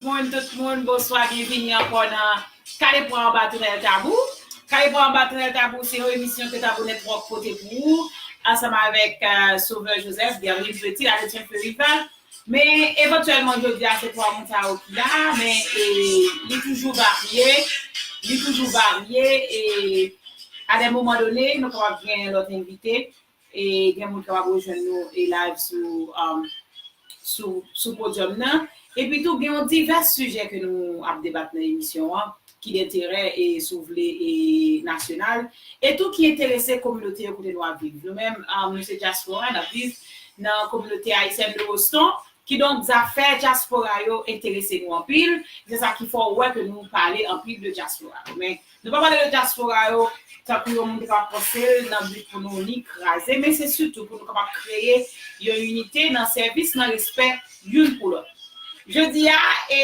Moun tout moun bonswa byenvini ankò nan kale pwa anba tonèl tabou kale pwa anba tonèl tabou se yon emisyon ke tabou network pote pou ou ansanm avèk sovè joseph guerline petit haïtien peu rival men evantyèlman jodia se 3 moun sa yo ki la men e li toujou varye li toujou varye e a dè moman done nou kapab gen lòt envite E gen moun kapab rejwenn nou e live sou um, sou, sou podium nan. Epi tou gen yon divès sijè ke nou ap debat nan emisyon an ki denterè e si w vle e nasyonal e tou ki enterese kominote yo kote nou ap viv. Nou menm um, nou se dyaspora, n ap viv nan kominote ayisyèn de Boston, kidonk zafè dyaspora yo enterese nou anpil e se sa ki fè w wè ke nou pale anpil de dyaspora. Men, Nou pa pale de dyaspora yo tankou yon moun te ka panse l nan bi pou nou ni kraze men se sitou pou nou kapab kreye yon inite nan sèvis nan respè youn pou lòt. Jodi a e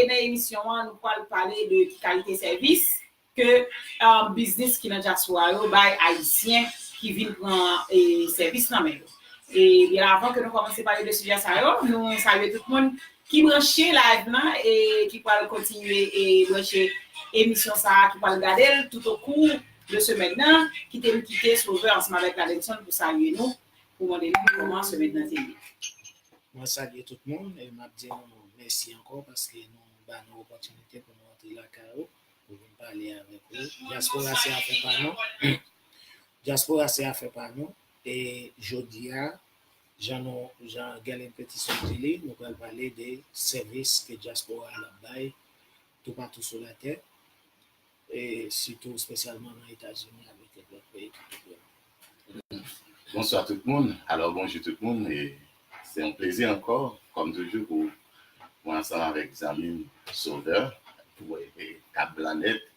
nan emisyon an nou pral pale de ki kalite sèvis ke biznis ki nan dyaspora yo bay ayisyen ki vin pran sèvis nan men yo. E byen avan ke nou kòmanse pale de sijè sa yo nou salye tout moun Ki branche live lan e ki pral kontinye e branche emisyon sa a, ki pral gade l tout o kou de semèn nan, kite m kite Sauveur ansanm avèk Ladenson pou salye nou, pou mande nou kòman semèn nan te ye. Mwen salye tout moun e m ap di nou mèsi ankò paske nou ba nou opòtinite pou nou antre lakay ou pou vin pale avèk ou. Dyaspora se afè pa nou, dyaspora se afè pa nou e jodi a Jan nou, jan Guerline Petisson di li, nou pral pale de sèvis ke dyaspora a ap bay toupatou sou latè, e sitou espesyalman nan Etazini avèk kèk lòt peyi ki tou pre nou. Bonswa tout moun, alò bonjou tout moun, e se yon plezi ankò, kòm toujou, pou mwen ansanm avèk zanmi m Sauveur, pou voye kap blan nèt,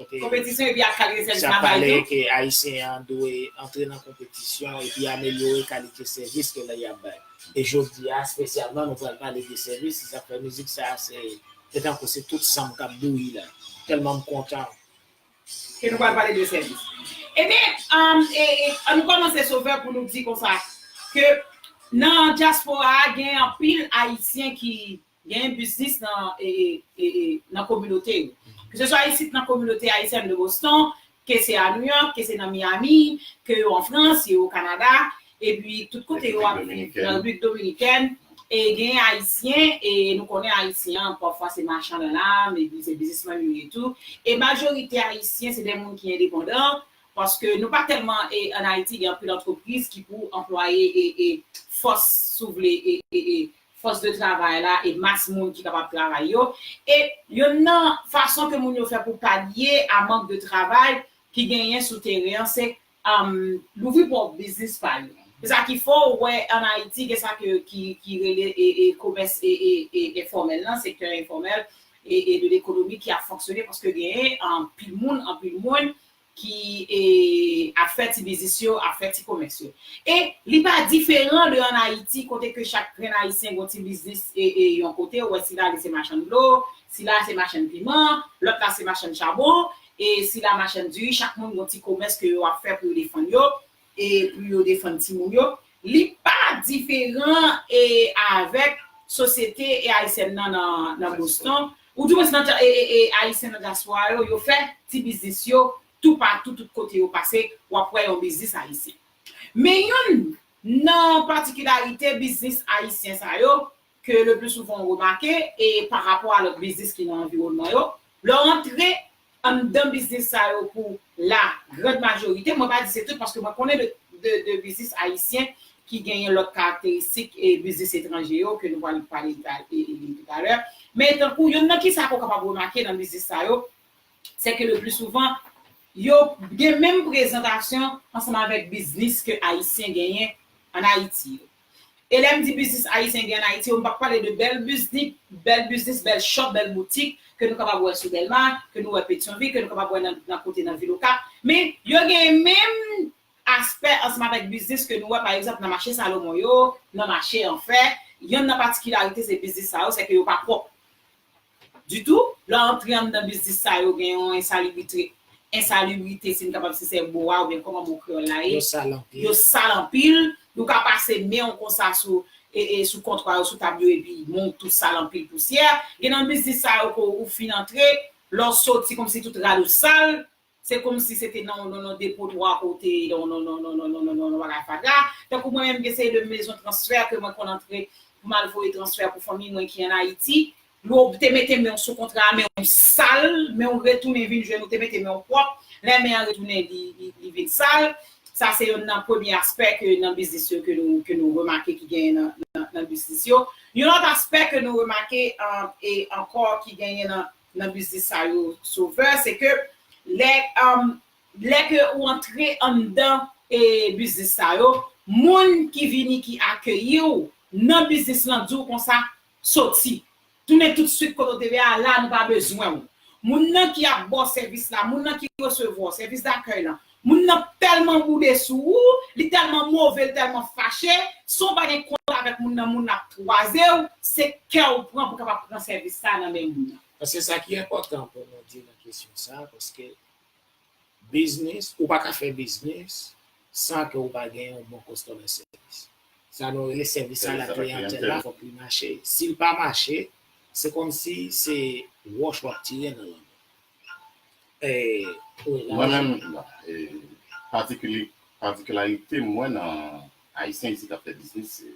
Konpetisyon epi ak kalite travay tou. Sa pale ke Ayisyen an dwe antre nan konpetisyon epi amelyore kalite sèvis ke li ap bay. E jodi a espesyalman nou pral pale de sèvis, se sa k fè mizik sa a se te tankou se tout san m k ap bouyi la, tèlman m kontan. Ke nou pral pale de sèvis. Ebyen, an nou kòmanse Sovè pou nou di konsa ke nan dyaspora a gen anpil Ayisyen ki Genyen biznis nan nan kominote yo. Keseswa isit nan kominote ayisyèn de Boston, ke se a New York, ke se nan Miami, ke yo an Frans, yo o Kanada, epi tout kote yo ap viv, nan Repiblik Dominikèn, e genyen ayisyen, e nou konnen ayisyen an pafwa se machan nan lam, epi se biznismann yo ye tou, e majorite ayisyen se de moun ki endepandan, paske nou pa tèlman e an Ayiti gen anpil antrepriz ki pou anplwaye e e fòs si w vle e e fòs de travay la e mas moun ki kapab travay yo, e youn nan fason ke moun yo fè pou palye a mank de travay ki genyen sou teren an se louvri pwòp biznis pa yo. Se sa ki fè w wè an Ayiti gen sa ke ki rele komès enfòmèl lan, sektè enfòmèl de lekonomi ki ap fonksyone paske genyen anpil moun, anpil moun ki ap fè ti biznis yo, ap fè ti komès yo. E li pa diferan de an Ayiti kote ke chak grenn Ayisyen gen yon ti biznis yon kote, ou wè sila li se machann dlo, sila se machann piman, lòt la se machann chabon, e sila machann diri, chak moun gen yon ti komès ke yo ap fè pou yo defann yo, e pou yo defann timoun yo li pa diferan e avèk sosyete e ayisyèn nan nan Boston ou di mwen nan e e ayisyen nan dyaspora yo yo fè ti biznis yo tou patou tout kote yo pase wap wè yon biznis ayisyen men youn nan patikilarite biznis ayisyen sa yo ke le pli souvan ou remake e pa rapò a lòt biznis ki nan anviwònman yo, lè w antre anndan biznis sa yo pou la grand majorite, mwen pa di se tout paske mwen konnen de biznis ayisyen ki genyen lòt karakteristik e biznis etranje yo ke nou pral pale toutalè, men tankou yonn nan kisa ke w kapab remake nan biznis sa yo, se ke le pli souvan yo gen menm prezantasyon ansanm avèk biznis ke ayisyen genyen an Ayiti yo. E lè m di biznis Ayisyen gen an Ayiti yo, m p ap pale de bèl biznik, bèl biznis, bèl shop, bèl boutik ke nou kapab wè sou Dèlma, ke nou wè Petyonvil, ke nou kapab wè nan kote nan vil Okap. Men, yo gen menm aspè ansanm avèk biznis ke nou wè pa egzanp nan mache Salomon yo, nan mache Anfè. Yonn nan patikilarite se biznis sa yo, sèke yo pa pwòp. Ditou, lè w antre anndan biznis sa yo gen yon ensalibritre, insalubrité si n kapab si se mo a oubyen kòman mo kreyòl la ye, Yo sal anpil. yo sal anpil, ou ka pase men w konsa sou e sou kontwa yo, sou tab yo epi men w tou sal anpil pousyè, gen nan biznis sa yo ke w fin antre, lè w soti kòmsi tout rad ou sal, Se komsi se te nan yon depotwa ke w te ye, yon bagay fatra. Tankou mwen menm m gen seri de mezon transfè ke mwen konn antre pou m al voye transfè pou fanmi mwen ki an Ayiti. Yo te mete men w sou kontra, men w sal, men w retounen vin jwenn ou te mete men w pwòp, lè men an retounen li vin sal. Sa se yonn nan premye aspè ke nan biznis yo ke nou remake ki genyen nan biznis yo. Yon lòt aspè ke nou remake e ankò ki genyen nan. nan biznis sa yo Sauveur se ke lè lè ke ou antre anndan e biznis sa yo moun ki vini ki akeyiw nan biznis lan diw konsa soti tounen tout swit kote ou te ye a la nou pa bezwenw moun nan ki ap baw sèvis la moun nan ki resevwaw sèvis dakèy lan Moun nan telman boude sou ou, li telman move, li telman fache, san w pa gen kont avek moun nan moun nan ap twaze w, se kè w pran pou kapab pran sèvis sa nan men moun nan. Paske sa ki enpòtan pou nou di nan kesyon sa, paske biznis, ou pa ka fè biznis san ke ou pa gen yon bon kostomè sèvis. Sa nou rele sèvis a la kliyantèl la fòk li mache. Si l pa mache, se kòmsi se wòch w ap tire nan lanmè. Mwen menm, patikilarite mwen nan Ayisyen isit ap fè biznis, se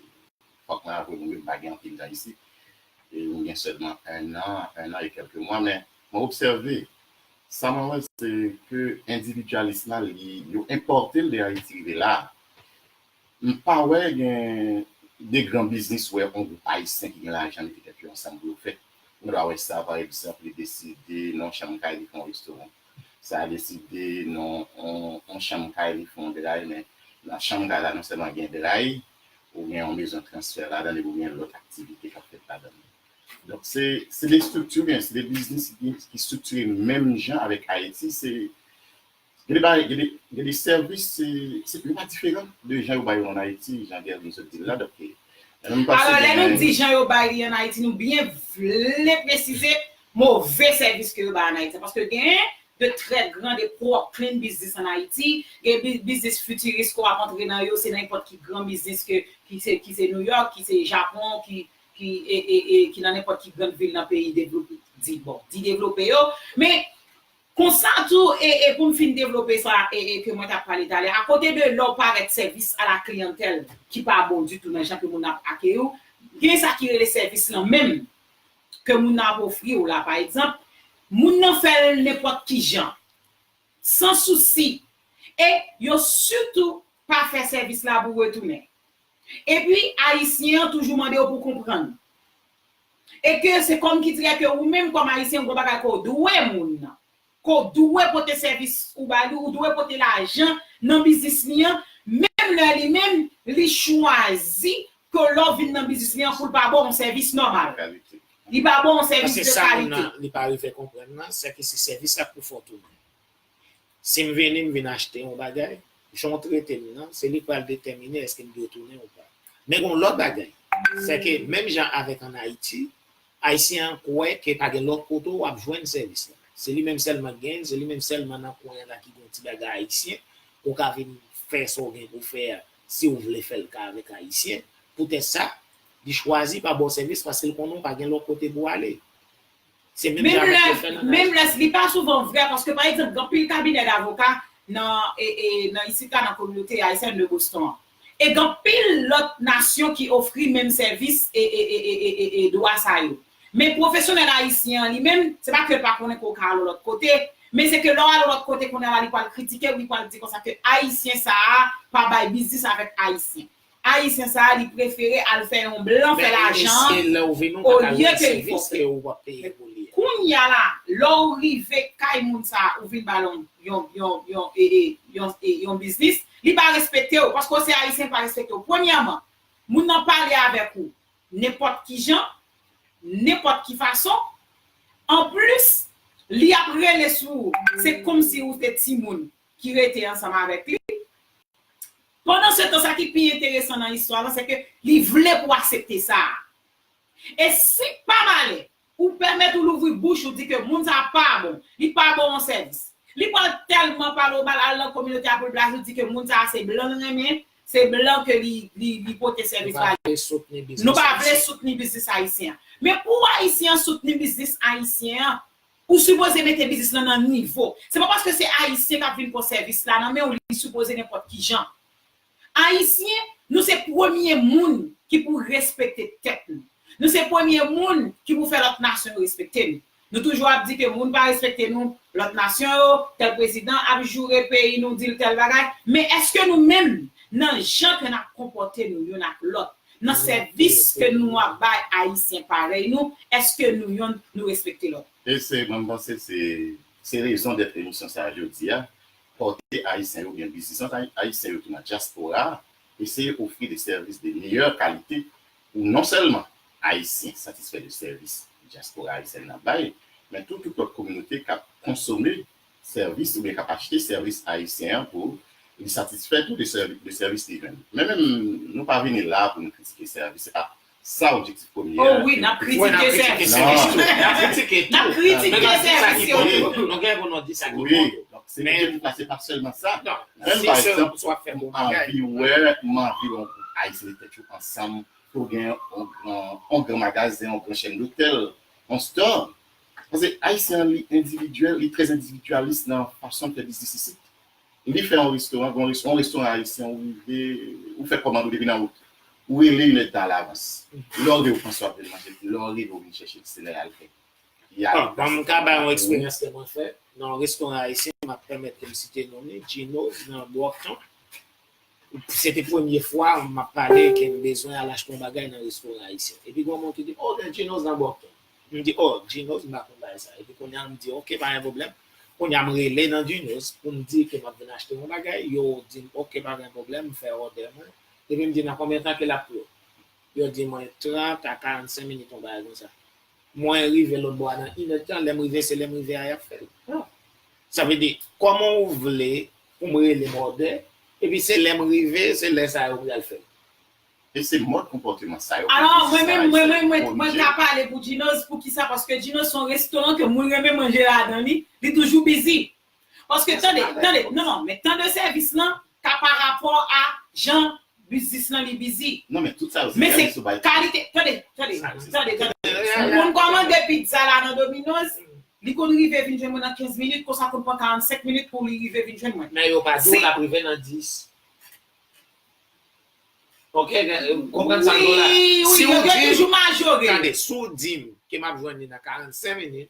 fòk mwen avwe nou yo m pa gen anpil tan isit. M gen sèlman ennan, ennan e kèlke mwa men mwen obsève, sa mwen wè se ke endividyalis la li, yo enpòte l de Ayiti rive la a. M pa wè gen de gran biznis wè on gwoup ayisyen ki gen lajan mete tèt yo ansanm pou yo fè. Nou ta wè sa pa egzanp li deside nan on chanm kay li fè on restoran. Sa deside nan on chanm kay li fè on dray men nan chanm kay la non sèlman gen dray, ou gen on mezon transfè ladan l epi ou gen lòt aktivite k ap fèt ladan l. Donk se de estrikti ou gen, se de biznis ki estriktire menm jan avèk Ayiti se Gen de bagay, gen de sèvis, se, yo pa diferan de jan yo bay yo an Ayiti, jan Guervy sot di l la, donk, mwen m panse gen yon. Alò, lè nou di jan yo bay li an Ayiti, nou byen vle presize move sèvis ke yo bay an Ayiti. Paske gen de trè gran, de pwoklin biznis an Ayiti, gen biznis fitiris ke w ap antre nan yo, se nan nenpòt ki gran biznis ke, ki se, ki se Nouyòk, ki se Japon, ki, ki, e, e, e, ki nan nenpòt ki gran vil nan peyi devlope, di, bon, di devlope yo. Men, Konsa tou, e e pou m fin devlope sa e e ke mwen t ap pale talè, akote de lè w parèt sèvis a la kliyantèl ki pa bon ditou nan jan ke moun nan ap akeyi w, gen sa ki rele sèvis lan menm ke moun nan ap ofri w la. Pa egzanp, moun nan fè l nenpòt ki jan, san sousi, e yo sitou pa fè sèvis la pou retounen. Epi, Ayisyen an toujou mande w pou w konprann. E ke se kòmkidire ke ou menm kòm Ayisyen gon bagay ke w dwe moun nan. Ke w dwe pote sèvis ou ba li, ou dwe pote lajan nan biznis li an, menm lè li menm li chwazi ke lè w vin nan biznis li an pou l pa ba w yon sèvis nòmal. Li pa ba w yon sèvis de kalite. Paske sa moun nan li pa rive konprann nan, sè ke se sèvis la pou fè w tounen. Si m vini, m vin achte yon bagay, jan w trete m nan, se li k pral detèmine èske m dwe tounen ou pa. Men gen yon lòt bagay, sèke menm jan avèk an Ayiti, Ayisyen an kwè ke pa gen lòt kote ou ap jwenn sèvis la. Se li menm sèlman ki genyen, se li menm sèlman nan kwen an la ki gen yon ti bagay Ayisyen, ou ka vin fè sa w gen pou w fè a si w vle fè l ka avèk Ayisyen. Poutèt sa, li chwazi pa ba w sèvis paske l konnen ou pa gen lòt kote pou w ale. Se menm jan avèk yo fè nan Naj. Menmlès li pa souvan vrè paske pa egzanp gen anpil kabinè davoka nan nan isit la nan kominote Haitian de Boston an. E gen anpil lòt nasyon ki ofri menm sèvis e dwa sa yo. Men pwofesyonèl ayisyen an li menm, se pa ke l pa konnen ke w ka al yon lòt kote, men se ke lè w al yon lòt kote kounye a la li pral kritike w li pral di konsa ke ayisyen sa a pa bay biznis avèk ayisyen. Ayisyen sa a li prefere al fè yon blan fè lajan an olye ke li fòse. Kounya la lè w rive kay moun sa a ou vin ba l yon biznis li pa respekte w paske w se ayisyen li pa respekte w. Premyèman moun nan pale avèk ou nenpòt kijan, nenpòt ki fason anplis li ap rele sou ou se kòmsi ou se timoun ki rete ansanm avèk li. Pandansetan, sa ki pi enteresan nan istwa lan sèke li vle pou w asepte sa a. E si, pa malè, ou pèmèt ou louvri bouch ou di ke moun sa a pa bon, li pa ba w yon sèvis, li pral tèlman pale w mal al nan kominote a pou l blaze w di ke moun sa a se blan l renmen, se blan ke li pote sèvis ba li. Nou pa vle soutni biznis ayisyen. Men pou ayisyen an soutni biznis ayisyen an, Ou sipoze mete biznis lan nan nivo. Se pa paske se ayisyen kap vin pwan sèvis la nan menw li sipoze nenpòt kijan. Ayisyen nou se premye moun ki pou respekte tèt nou. Nou se premye moun ki pou fè lòt nasyon yo respekte nou. Nou toujou ap di ke moun pa respekte nou, lòt nasyon yo, tèl prezidan ap joure peyi nou dil tèl bagay, men eske nou menm nan jan ke nap konpòte nou youn ak lòt, Nan sèvis ke nou ap bay Ayisyen parèy nou, èske nou yonn nou respekte lòt? E se, mwen panse se, se rezon dèt emisyon sa a jodi a, pòte Ayisyen yo oubyen bizisans Ayisyen yo ki nan dyaspora a, eseye ofri de sèvis de meyè kalite pou non sèlman Ayisyen satisfè de sèvis dyaspora Ayisyèn nan bay, men tou tout lòt kominote k ap konsome sèvis oubyen k ap achte sèvis ayisyen an pou li satisfè tou de sèvis li jwenn. Men menm nou pa vini la pou nou kritike sèvis, se pa sa objektif premye an. O wi n ap kritike sèvis tou, n ap kritike tou, men n ap di sa ki bon yo tou, nou gen pou nou di sa ki bon yo. Men se pa sèlman sa, menm pa egzanp ou anvi wè, m anvi wè yon gwoup ayisyen mete tèt yo ansanm pou gen yon gran magazen, yon gran chèn dotèl, yon store, Paske Ayisyen an li endividyèl, li trè endividyalis nan fason l fè biznis isit. Li fè yon restoran, gen yon restoran ayisyen ou rive, ou fè kòmand ou depi nan wout. Ou rele inèd tan alavans. Lè w rive ou panse w ap jwenn manje, lè w rive ou vin chèche l, se lè y al fè. Bon, m ka bay yon eksperyans ke mwen fè nan yon restoran ayisyen, m ap pèmèt ke m site non li, Djinoz nan Brockton. Se te premye fwa m ap pale ke m bezwen al achte yon bagay nan restoran ayisyen. Epi gen yon moun ki di m, Oh, gen Gino's nan Boston. M di, Oh, Gino's? M pa konn bagay sa. Epi kounye a m di, Ok, pa gen pwoblèm. Kounye a m rele nan Gino's pou m di ke m ap vin achte yon bagay. Yo di m, Ok, pa gen pwoblèm. M fè òdè mwen. Epi m di, Nan konbyen tan ke l ap pre? Yo di mwen, 30 a 45 minit, yon bagay konsa. Mwen rive lòtbò a nan inèdtan. Lè m rive, se lè m rive a y ap fè l. Sa vle di, kòman ou vle pou m rele mòde, epi se lè m rive, se lè sa yo pral fè. E se mòd konpòteman sa yo ke Jezi Sara Ayisyen konn jwe. Mwen menm, mwen ka pale pou Djinoz, poukisa, paske Djinoz se yon restoran ke mwen renmen manje ladan li, li toujou bizi. Paske tande, tande, non, non, men tan de sèvis lan ka pa rapò a jan Biznis lan li bizi. Non men tout sa yo se sèvis ou bay. Kalite tande tande tande tande moun kòmande pizza la nan domino's li konn rive vin jwenn mwen nan 15 minit konsa konn pran 45 minit pou li rive vin jwenn mwen. Men yo pa diw lap rive nan 10. Ok ou konprann sam diw la. Wi wi yo toujou majore. Tande si w dim ke map jwenn li nan 45 minit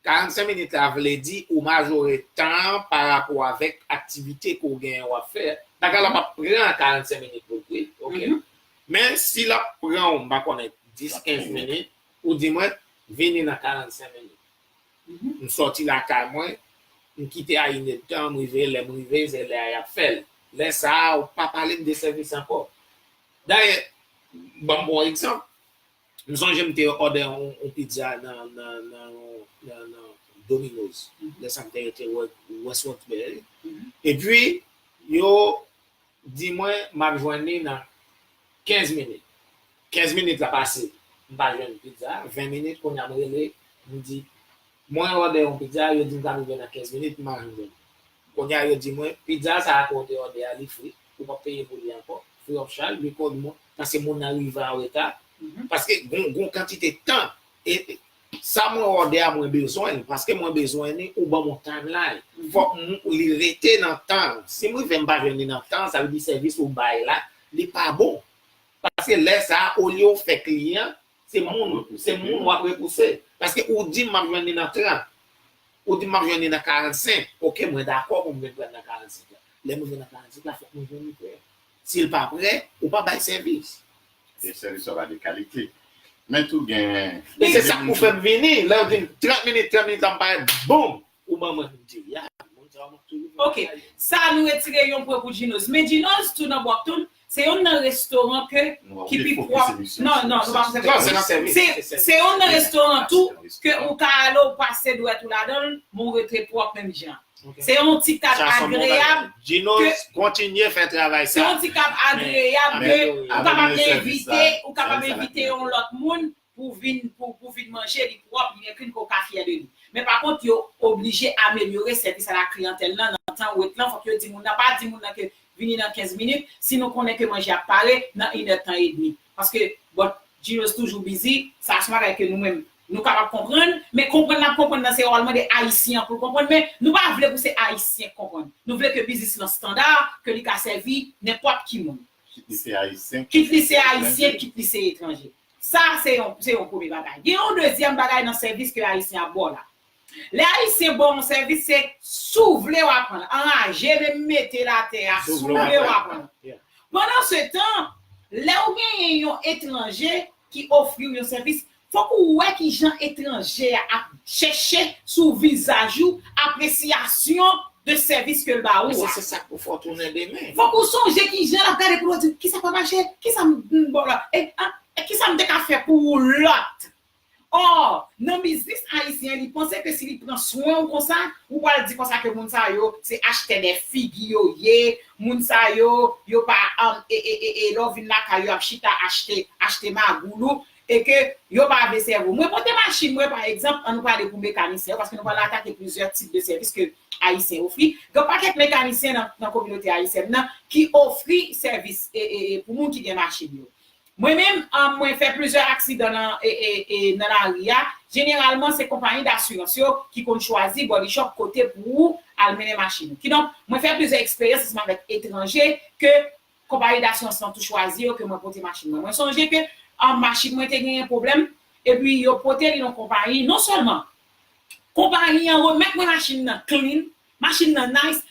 45 minit la vle di ou majore tan an pa rapò avèk aktivite ke w genyen w ap fè. Bagay la p ap pran 45 minit pou l kwit, ok. Men si l ap pran w, m pa konnen, 10, 15 minit, ou di mwen, vini nan 45 minit. M sòti lakay mwen, m kite a inedtan, m rive, lè m rive, se lè a y ap fè l. Lè sa a, ou pa pale m de sèvis ankò. Dayè, ban m bon egzanp, M sonje m te òdè yon pizza nan Domino's lè sa m te rete Westward Spaghetti epi yo di mwen m ap jwenn li nan 15 minit. 15 minit la pase m pa jwenn pizza a, 20 minit kounya m rele m di mwen òdè yon pizza yo di m ta rive nan 15 minit m pa janm jwenn li. Kounya yo di mwen pizza sa ke w te òdè a li fri, ou pap peye pou li ankò, free of charge, li kòd mwen pase moun nan rive an reta, paske gon gon kantite tan e sa mwen òdè a mwen bezwen li, paske mwen bezwen li ou banm on timeline, fòk li rete nan tan, si m rive m pa jwenn li nan tan sa vle di sèvis ou bay la li pa bon, paske lè sa olye w fè kliyan Se moun, se moun wap repouse. Paske ou dim map jwenn li nan 30. Ou dim map jwenn li nan 45. Ok mwen dakò pou m vin prann nan 45 la. Lè m rive nan 45 la fòk mwen jwenn li prè. Si l pa prè, ou pa bay sèvis. E sèvis wap bay de kalite. Men tou gen. Men se sak pou fè m vini. Lè yo dim 30 minit, 30 minit la m parèt boom! Ou ban mwen pou di ya. Ok sa nou retire yon pwen pou djinoz men djinoz tou nan bwakton se yon nan restoran ke ki pi pwòp nan nan nou pa fòse sèvis se yon nan restoran tou ke ou ka ale ou pase dwèt ou ladanl men ou rete pwòp menm jan se yon ti kad agreyab ke kontinye fè travay sa se yon ti kad agreyab ke ou kapab envite ou kapab envite yon lòt moun pou vin pou pou vin manje li pwòp li gen klin ke w ka fyè de li men pa kont yo oblije amelyore sèvis ala kliyantèl nan nan tan wet lan fòk yo di moun nan pa di moun nan ke vini nan 15 minit si nou konnen ke manje ap pare nan inè tan edmi paske bon Ginos toujou bizi sa son bagay ke nou menm nou kapab konprann men konprann nap konprann nan se wòl mwen de ayisyen an pou l konprann men nou pa vle pou se ayisyen k konprann nou vle ke biznis lan standa ke li ka sèvi nenpòt ki moun kit li se ayisyen kit li se ayisyen kit li se etranje Sa a se yon se yon premye bagay. Gen yon dezyèm bagay nan sèvis ke Ayisyen ap ba w la. Lè Ayisyen ba w yon sèvis se si w vle w ap pran l, anraje menm mete l atè a, si w vle w ap pran l. Pandan se tan, lè w genyen yon etranje ki ofri w yon sèvis, fòk ou wè ki jan etranje a ap chèche sou vizaj ou apresiyasyon de sèvis ke l ba ou a. Se sa k pou fè w tounen demen. Fòk ou sonje ki jan l ap gade pou l ou di, kisa k pa mache? Kisa m dn ba w la? E a, kisa m te ka fè pou ou lòt? Or, nan biznis ayisyen, li panse ke si li pran swen ou konsa, ou pral di konsa ke moun sa yo se achtè de figi yo ye, moun sa yo, yo pa, e, e, e, e lè w vin lakay yo y ap chita achte, achte magoul ou. e ke yo pa vle sèvo. Mwen pote machin mwen pa egzanp, an nou pale pou mekanisyen yo, paske nou pral atake plizyè tip de sèvis ke ayisyen ofri. Gen yon pakèt mekanisyen nan nan kominote ayisyèn nan ki ofri sèvis e e e pou moun ki gen machin yo. Mwen menm mwen fè plizyè aksidan nan e e e nan lari a, jeneralman se konpayi dasirans yo ki konn chwazi body shop kote pou ou al mennen machin ou. Kidonk mwen fè plizyè eksperyans ansanm avèk etranje ke Konpayi dasirans lan tou chwazi yo ke mwen pote machin mwen. Mwen sonje ke machin mwen te genyen pwoblèm, epi yo pote li nan konpayi, non sèlman konpayi an remèt mwen machin nan clean, machin nan nice,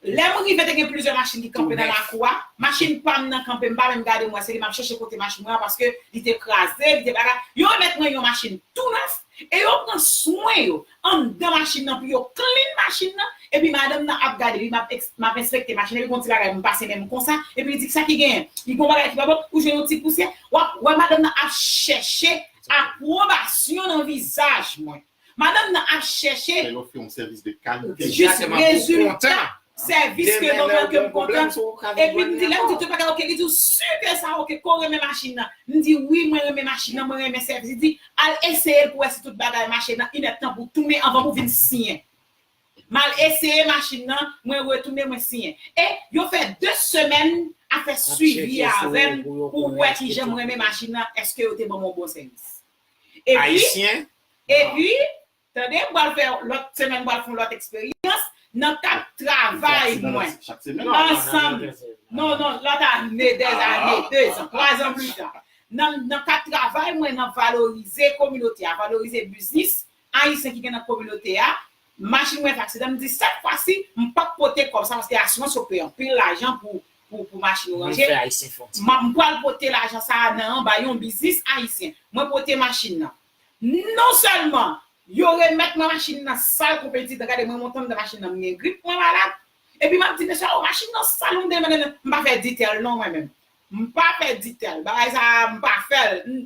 lè m rive te gen plizyè machin ki kanpe nan lakou a, machin pa m nan kanpe, m pa menm gade mwen se li m ap chèche pote machin mwen an paske li te kraze, li te bagay, yo remèt mwen yon machin tou nèf e yo pran swen yo, anndan machin nan pou yo clean machin nan epi madanm nan ap gade li map map enspekte machin nan epi gon ti bagay m pase menm konsa epi li di kisa ki genyen li gon bagay ki pa bon ou jwenn yon ti pousyè wap wè madanm nan ap chèche apwobasyon nan vizaj mwen madanm nan ap chèche Fè yo ofri yon sèvis de kalite jis rezilta Sèvis ke banm lan kem kontan Epi m di lèm di tout bagay ok li diw sur ke sa ok ke w renmen machin nan m di wi mwen renmen machin nan mwen renmen sèvis li di al eseyel pou wè si tout bagay mache nan yn èdtan pou w tounen anvan pou w vin siyen m al eseye machin nan mwen retounen mwen siyen e yo fè 2 semèn ap fè swivi a avèm pou wè kijan m renmen machin nan eske yo te banm yon bon sèvis epi epi Tande m pral fè lòt semèn m pral fè yon lòt eksperyans nan kad travay mwen ansanm non non lòt ane dè zane dezan twazan plitan nan kad travay mwen nan valorize kominote a valorize biznis ayisyen ki gen nan kominote a machin mwen fè aksidan m di sèt fwa si m p ap pote kòb sa paske asirans yo peye anpil lajan pou pou machin yo ranje m pral pote lajan sa nan anba yon biznis ayisyen mwen pote machin nan Non sèlman yo remèt mwen machin nan sal kou pentit gade mwen monte anndan machin nan m gen grip mwen malad epi m ap di mesye oh machin nan sal m gen menen m pa fè ditèl non mwen menm m pa fè ditèl bagay sa a m pa fè l n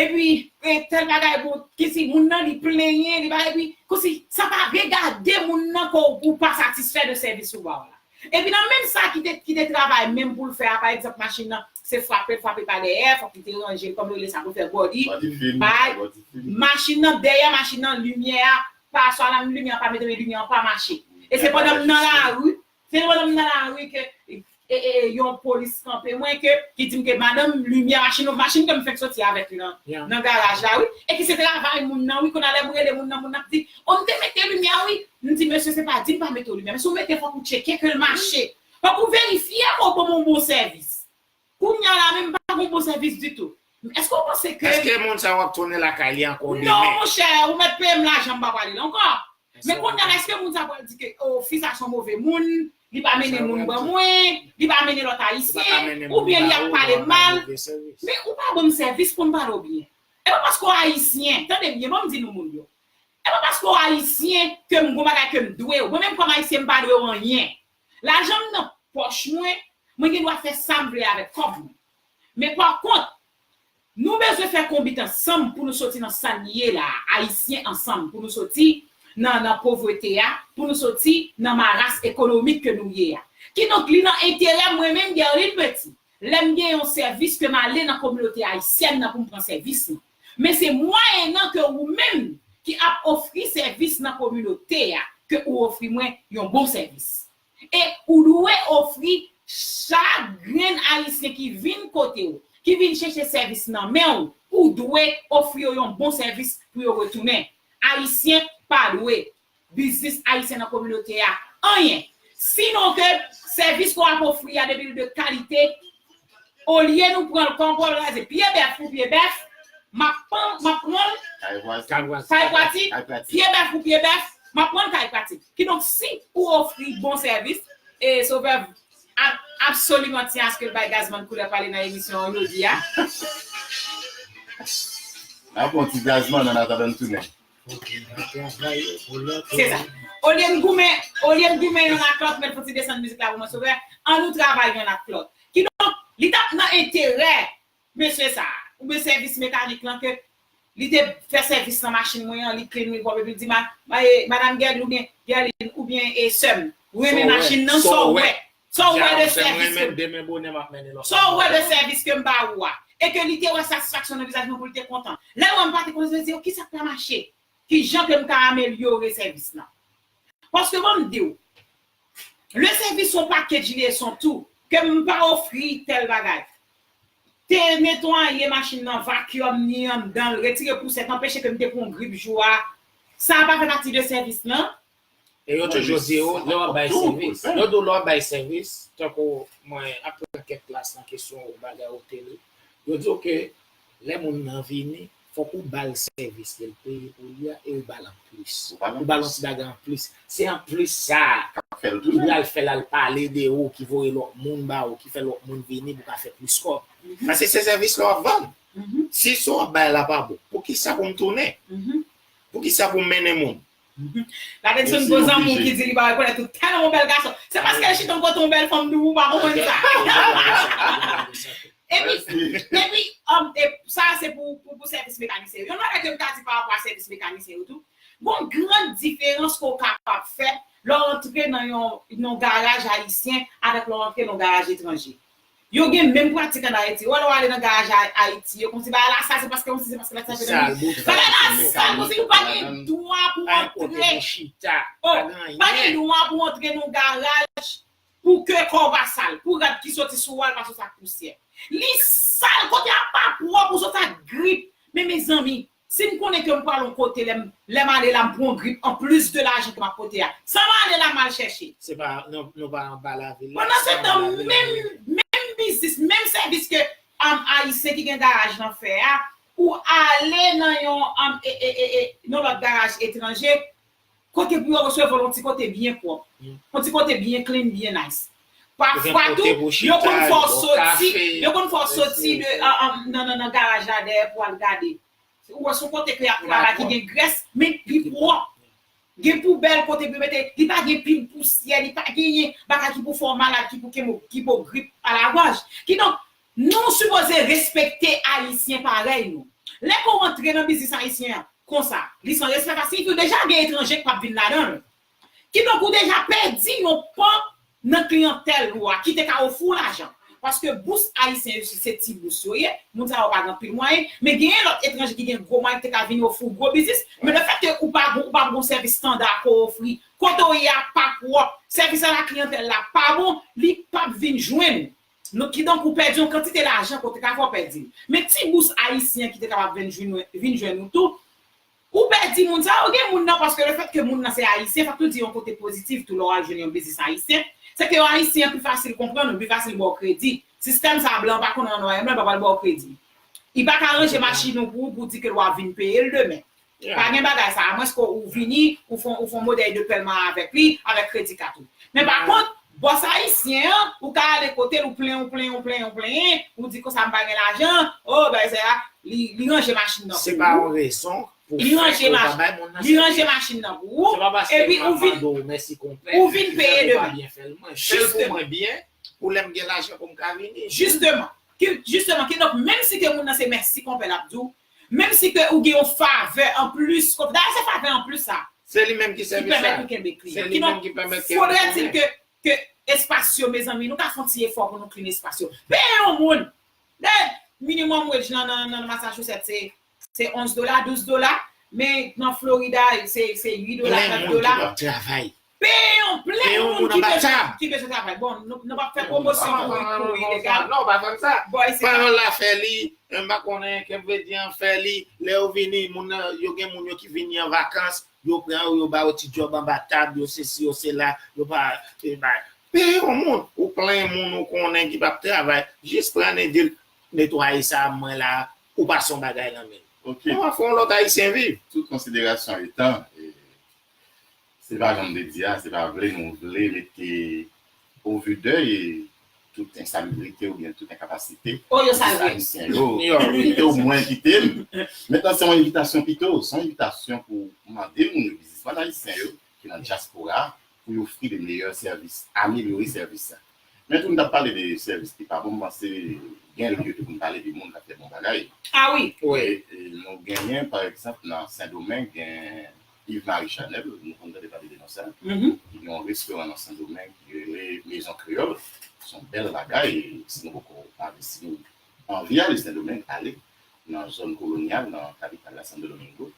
epi e tèl bagay bon kisi moun nan li plenyen li pa epi kousi sa pa vle gade moun nan ke w pa satisfè de sèvis yo ba w la. Epi nan menm sa ki te ki te travay menm poul fè a pa egzanp machin nan se frapel frape pa dèyè fòk li te ranjel kòman yo rele sa poul fè body bay machin nan dèyè machin nan limyè a pa sa la menm limyè a pa mete men limyè an pa mache e se pandan m nan lari se pandan m nan lari ke yon polis kanpe mwen ke ki dim ke madanm limyè machin nou machin kem fenk soti avèk li nan nan garaj la wi e ki se travay moun nan wi kounya lèm rele moun nan moun nan ap di o m te mete limyè wi M di mesye se pa di m pa mete w limyè men si w mete fòk ou tcheke ke l mache fòk ou verifye o ban m yon bon sèvis kounya la menm m pa gen yon bon sèvis ditou m èske w panse ke. Èske moun sa yo ap tounen lakay li ankò demen? Non monchè ou mèt peye m lajan m pa pale l ankò men kounya la èske moun sa pral di ke o fi sa son move moun li pa mennen moun ban mwen li pa mennen lòt ayisyen oubyen li ap pale mal men ou pa ban m sèvis pou m pale w byen e pa paske w ayisyen tande byen ban m di nou moun yo E pa paske w ayisyen ke m gon bagay ke m dwe w. Mwen menm kòm ayisyen m pa dwe w anyen. Lajan m nan pòch mwen, mwen gen dwa fè sa m vle avèk kòb mwen. Men pa kont, nou bezwen fè konbit ansanm pou nou soti nan sa n ye la a, ayisyen ansanm pou nou soti nan nan povrete a, pou nou soti nan maras ekonomik ke nou ye a. Kidonk li nan enterè mwen menm Guerline Petit, lè m gen yon sèvis ke m ale nan kominote ayisyèn nan pou m pran sèvis lan. men se mwayennan ke ou menm ki ap ofri sèvis nan kominote a ke ou ofri mwen yon bon sèvis. E ou dwe ofri chak grenn Ayisyen ki vin kote ou, ki vin chèche sèvis nan men ou, ou dwe ofri yo yon bon sèvis pou yo retounen. Ayisyen pa dwe. biznis ayisyen nan kominote a anyen sinon ke sèvis ke w ap ofri a depi l de kalite olye nou pran l kon pwal raze pye bèf pou pye bèf m ap pran l kay pwati pye bèf pou pye bèf m ap pran l kay pwati kidonk si ou ofri bon sèvis e sovè ap absoliman tyen aske l bay gazman koulè pale nan emisyon an jodi a. N ap pran yon ti gazman annatandan n tounen. Se sa. Olye n goumen, olye n goumen yonn ak lòt, mèt fouti desann mizik la pou mwen Sovè, an nou travay yonn ak lòt. Kidonk, li t ap nan enterè mesye sa a, oubyen sèvis mekanik lan ke li te fè sèvis nan machin mwen an, li klin li pwòp epi li di ma, Madam Gèlin oubyen Gèlin oubyen sè m, renmen machin nan, sa w wè? Sa w wè de sèvis ke m demen bonè m ap mennen lòt Sa w wè de sèvis ke m ba ou a? E ke li te wè satisfaksyon nan vizaj mwen pou l te kontan. Lè wè m pa te kontan se di yo kisa k pa mache? Ki jan ke m ka amelyore sèvis lan? Paske ban m di w, le sèvis son package li e son tout, ke m pa ofri tèl bagay. Te netwaye machin nan, vacuum ni anndan l, retire pousèt, anpeche ke m te pran yon grip jou a, sa a pa fè pati de sèvis lan. E yo toujou di ou lè w ap bay sèvis. Yo di w lè w ap bay sèvis, tankou mwen ap pran kèk klas nan kesyon ou bagay ou te li, yo di w ke lè moun nan vini, fòk ou ba l sèvis li, l peye pou li a e ou ba l anplis. Ou ba l yon ti bagay anplis. Se anplis sa a ki pral fè l al pale de ou, ki voye lòt moun ba ou, ki fè lòt moun vini pou ka fè plis kòb. Paske se sèvis la w ap vann. Si sa w ap bay la pa bon, poukisa pou m tounen? Poukisa pou m mennen moun? La gen ti gwo zanmi ki di li pa rekonèt ou tèlman ou bèl gason. Se paske l chita kote yon bèl fanm tou ou pa konprann sa. Epi epi sa se pou sèvis mekanisyen yo. Yon bagay ke m ta di pa rapò a sèvis mekanisyen yo tou, gon gran diferans ke w kapab fè lè w antre nan yon garaj ayisyen avèk lè w antre nan yon garaj etranje. Yo gen menm pratik an Ayiti. Ou wè lè w ale nan garaj a Ayiti yo konsi bagay la sal se paske konsi se paske la sal se Sal bout bagay la sal konsi pa gen dwa pou antre pa gen kote pou chita pa gen anyen pa gen dwa pou antre nan yon garaj pou ke kò w pa sal pou rad ki soti sou ou a pa soti ak pousyè li sal kote a pa pwòp ou soti ak grip men mezanmi Si m konnen ke m pral on kote lè m lè m ale la m pran on grip anplis de lajan ke m ap pote a, sa m ale la m al chèche? Se pa nou nou pa anba lavil la, Pandan se tan menm menm biznis, menm sèvis ke Ayisyen ki gen garaj lan fè a, ou ale nan yon yon lòt garaj etranje, Kote pou yo resevwa l yon ti kote byen pwòp. Yon ti kote byen clean, byen nice. Pafwa tou, yo konn fè w soti, yo konn fè w soti de nan garaj la dèyè pou al gade. Ou wè se yon kote ke y ap travay ki gen grès, men ki pwòp. Gen poubèl kote pou yo mete, li pa gen pil pousyè, li pa genyen bagay ki pou fè w malad, ki pou kenbe w, ki pou w grip a la gòj. Kidonk, Nou sipoze respekte ayisyen parèy nou. Lè ke w antre nan biznis ayisyen an konsa, li san respè sa siyifi w deja gen etranje k pap vin ladan l. Kidonk ou deja pèdi yon pan nan kliyantèl ou a ki te ka ofri w lajan. Paske bous ayisyen yo isit se ti bous yo ye, moun sa yo pa gen anpil mwayen, men genyen lòt etranje ki gen gwo mwayen ki te ka vin ofri w gwo biznis, men lefèt ke ou pa gon ou pa gon sèvis standa ke w ofri, kote w ye a pa pwòp, sèvis a la kliyantèl la pa bon, li pap vin jwenn Nou kidonk ou pèdi yon kantite lajan ke w te ka fè w pèdi l. Men ti bous ayisyen ki te kapab vin jwenn ou tou, ou pèdi moun sa yo. Gen moun nan paske le fèt ke moun nan se ayisyen, fòk nou di yon kote pozitif tou lè w al jwenn yon biznis ayisyen, se ke yon ayisyen pi fasil konprann ou, pi fasil ba w kredi. Sistèm sa a blan pa konn an nwayè blan pa pral ba w kredi. Li pa ka ranje machin ou pou ou pou w di ke l wap vin peye l demen. Pa gen bagay sa, amwenske ou vini, ou fon ou fon modèy de pèman avèk li, avèk kredi kat ou. Men pa kont, bòs ayisyen an, ou ka ale kote l, ou plenyen, ou plenyen, ou plenyen, ou plenyen, ou di konsa m pa gen lajan, o, bagay sa, li li ranje machin nan Se pou pa ou, yon rezon pou li fè ranje ke ou pa mach, bay moun nan li ranje sèvis. machin nan pou ou, Se pa paske epi m ou ap vin, mande w mèsi konpè, ou vin ki fè peye pou w pa demen. byen fè l. Mwen fè l pou Jisteman. mwen byen, pou lè m gen lajan pou m ka vini. Jisteman. Ki, jisteman, kidonk menm si ke moun nan se mèsi konpè l ap di w, Menm si ke ou gen yon favè an plis kont, dayè se favè an plis sa. Se li menm ki sèvi sa. Ki pèmèt ou kenbe klin an. Ki donk, faudrait-il ke, ke espas yo mezanmi, nou ka fon ti efò pou nou klin espas yo. Peye yon moun! Dayè, minimum wage lan nan, nan Massachusetts se, se 11 dola, 12 dola, men nan Florida se, se 8 dola, 9 dola. Plen moun ki pap travay. Peye yon plèn moun ki bezwen ki bezwen travay bon nou pap fè pwomosyon pou pou ilegal non pa fèm sa bon se parol la fè li m pa konnen kep vedi an fè li lè yo vini moun nan yo gen moun yo ki vini an vakans yo pran yo yo ba yo ti job anba tab yo se si yo se la yo pa e bay peye yon moun ou plen moun ou konnen ki pap travay jis pran e dil netwaye sa mwen la ou pa son bagay nan menm ok ou an fon lot ayisyen viv tout konsiderasyon etan e. Se pa janm te di a, se pa vle nou vle mete o vu dèy tout ensalibrite oubyen tout enkapasite de ayisyen yo, pito ou mwen kite m met lan se yon envitasyon pito, se yon envitasyon pou mande moun yo, bizisman ayisyen yo ki nan dyaspora pou yo ofri de meyè sèvis, amelyore sèvis. Men tou m t ap pale de sèvis ki pa bon, m panse gen lye tou pou n pale de moun k ap fè bon bagay. Nou genyen pa egzanp nan Sendomeng gen. Yves Marie Chanel, nou konn tande pale de non sa, ki gen yon restoran nan Sendomeng ki rele Maison Creole, se yon bèl bagay, si nou poko ale, si nou anvi ale Sendomeng, ale nan zòn kolonyal, nan kapital la, Santo Domingo,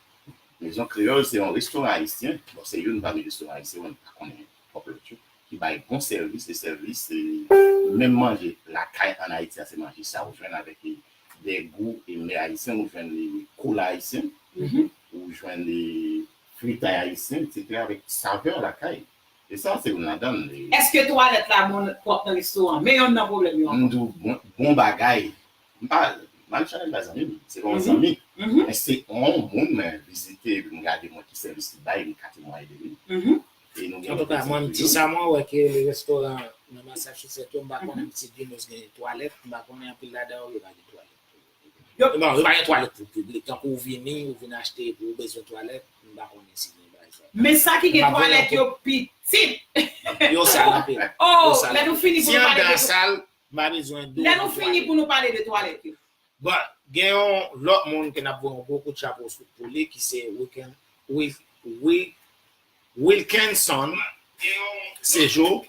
Maison Creole se yon restoran ayisyen, bon se youn pami restoran ayisyen, mwen pa konnen twòp lòt yo, ki bay bon sèvis, e sèvis se menm manje lakay an Ayiti a, se manje sa ou jwenn avèk li. de gou e mè ayisyen ou jwenn li koulay ayisyen ou jwenn li fritay ayisyen etc avèk savè lakay e sa se youn ladan l. Eske twalèt la bon pwòp nan restoran me yonn nan pwoblèm yo ankò. Mdou bon bagay mpa mal chanèl la zanmi m se pa yon zanmi men se yon moun mwen vizite mgade mwen ki sèvis li bay mka temwaye de li Antouka mwen m disa mwen wè ke le restoran nan Masachisèt yo m pa konnen si Ginos gen twalèt m pa konnen anpil ladan yo yo pa gen twalèt pou yo non yo pa gen twalèt pou piblik tankou ou vini ou vin achte epi ou bezwen twalèt m pa konnen si gen bagay sa men sa ki gen twalèt yo pitit yo sal anpil oh lè nou fini pou nou pale de twalèt yo si andan sal m pa bezwen dlo lè nou fini pou nou pale de twalèt yo. Bon, gen yon lòt moun ke n ap voye yon gwo kout chapo pou li ki se Wilkenson Sejour.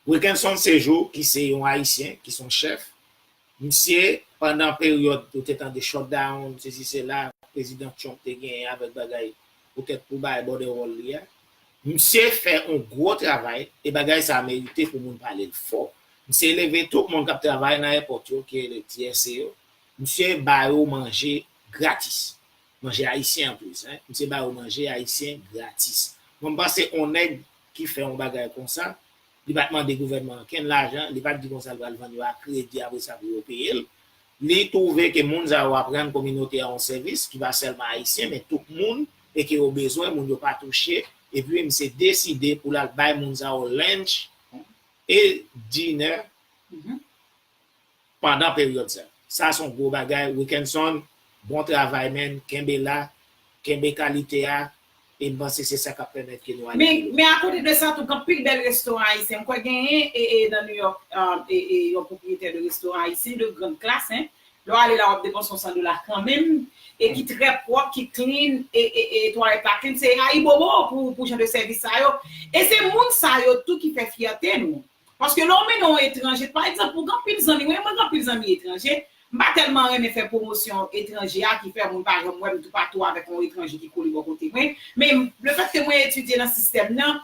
Wilkenson Sejour ki se yon Ayisyen, ki se yon chèf. Misye, pandan peryòd ou te tande shutdown, sesi sela, Prezidan Trump te genyen avèk bagay poutèt pou bay bòdewòl li a, Misye fè on gwo travay e bagay sa merite pou moun pale l fò. Misye eleve tout moun kap travay nan èpòt yo ki rele TSA yo. Misye ba yo manje gratis. Manje ayisyen an plis hein. Misye ba yo manje ayisyen gratis. Mwen m panse on nèg ki fè on bagay konsa, li pat mande gouvènman an kenn lajan, li pat di konsa li pral vann yo a kredi apre sa pou yo peye l. Li twouve ke moun sa yo aprann kominote a on sèvis ki pa sèlman ayisyen men tout moun e ke yo bezwen moun yo pa touche epi misye deside pou lal bay moun sa yo lunch e dinner pandan peryòd sa sa son gwo bagay Wickenson bon travay man kenbe la kenbe kalite a e mpanse se sa kap pèmèt ke nou ale pi lwen. Men akote de sa tou gen anpil bèl restoran ayisyen mkwè genyen nan New York yon pwopriyetè de restoran ayisyen de grande classe hein Lè w ale la w ap depanse yon 100 dola kanmenm e ki trè pwòp, ki clean e twalèt la clean. Se ayibobo pou jan de sèvis sa yo. E se moun sa yo tou ki fè fyète nou. Paske lè w mennen yon etranje, pa egzanp pou anpil zanmi mwen, mwen gen anpil zanmi etranje, m pa tèlman renmen fè pwomosyon etranje a ki fè moun pa janm wè m toupatou avèk yon etranje ki kole bò kote mwen. Men lefètke mwen etidye nan sistèm nan,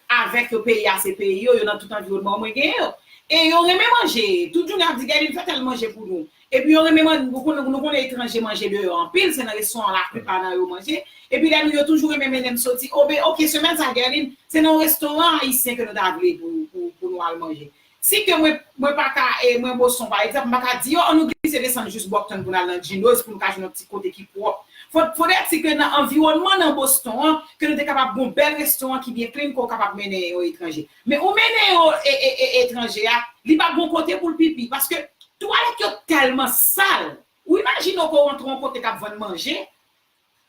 avèk yo peyi a se peyi yo yo nan tout anviwònman mwen gen yo e yo renmen manje tout jounen ap di gade m fè tèl manje pou nou epi yo renmen man nou konnen nou konnen etranje manje deyò anpil se nan restauran la plipa nan yo manje epi lè nou yo toujou renmen mennen m soti o be ok semèn sa Guerline se nan yon restauran ayisyen ke nou ta vle pou pou nou al manje Si ke mwen, mwen pa ka, e mwen Boson, pa egzanp, m pa ka di yo, an nou glise desann jous Bòktonn pou n al nan Djinoz pou nou ka jwenn yon ti kote ki pwòp. Fòt, podèt si ke nan anviwònman nan Boston an, ke nou te kapab gon bèl restoran ki byen klin ke w kapab mennen yon etranje. Men ou mennen yo e, e, e, etranje a, li pa gon kote pou l pipi, paske twalèt yo tèlman sal. Ou imajine w ke w antre yon kote k ap vann manje,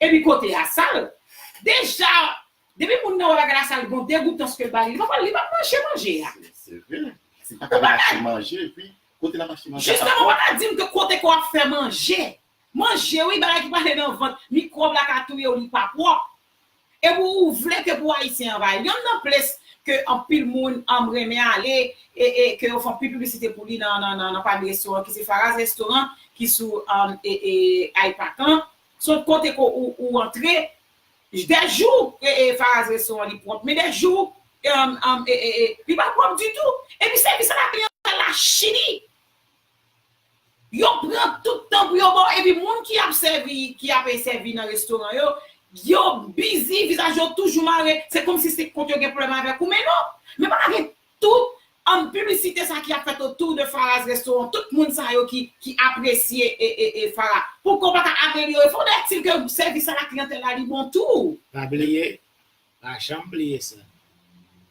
Epi kote ya sal. Deja Depi moun nan wè bagay la sal gon degoutans kel bay li pap li pap manje manje ya. Se vre si paka vin achte manje epi kote lap achte manje a pa pwòp. Jistemon paka dim ke kote ke wap fè manje manje wi bagay ki pale nan vant mikwòb la ka touyew li pa pwòp epi ou vle ke pou ayisyen anvayi yonn nan ples ke anpil moun anm renmen ale e ke yo fè anpil piblisite pou li nan nan nan pami restoran ki se Faraz restaurant ki sou e e Ipac lan Sot kote ke ou antre. Jde jou ee faraz resto an li prop men de jou ee li pa prop ditou epi sevis ala pli an sal la chili yo pran tout tan pou yo baw epi moun ki ap sevi ki ap sevi nan restoran yo yo bizi vizaj yo toujou mare se komsi se kont yo gen pwoblem avek ou men non men paka gen Tout An piblisite sa ki ap fèt autour de Farah's restaurant tout moun sa yo ki ki apresye e Farah pouki w paka amelyore faudrait il ke sèvis a la clientèle la li bon tou. Pa bliye, pa janm bliye sa.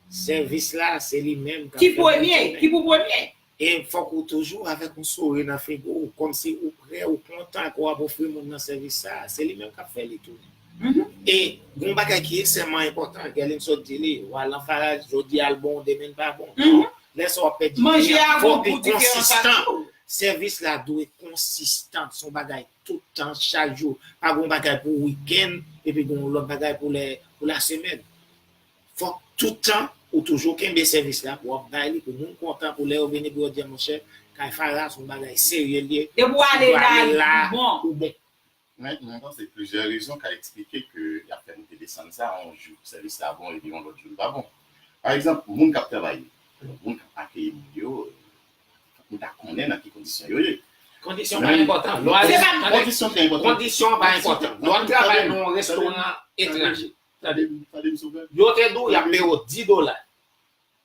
Sèvis la se li menm kap fè moun tounen. Ki pou premye. E fòk ou toujou avèk yon souri nan figu w kòmsi ou prè ou kontan ke wap ofri moun nan sèvis sa, se li menm kap fè li tounen. E gon bagay ki ekseman enpotan Gelin sot di li, wa lan faraj jodi al bon demin pa bon non, lè sa wap fè diri an fok li konsistan, sèvis la dwe konsistan son bagay tout tan chak jou pa gon bagay pou wikenn epi gon lot bagay pou lè pou la semèn fok tout tan ou toujou kenbe sèvis la pou wap bay li pou moun kontan pou lè yo vini pou yo di monchè kay fara son bagay serye li ye si ou ale la ou bon. Men, mwen panse plizyè rezon ka eksplike ke y ap fè moute desann sa a, yon jou sèvis la bon epi yon lòt jou li pa bon. Pa egzanp, moun k ap travay yo, alò moun k ap akeyi moun yo, fòk nou ta konnen nan ki kondisyon yo ye. Kondisyon pa enpòtan. Lò ale. Tande! Kondisyon ki enpòtan. Kondisyon an pa enpòtan. Lò ap travay nan yon restoran etranje. Tande! Tande m, Sovè. Yo te di w y ap peye w di dola.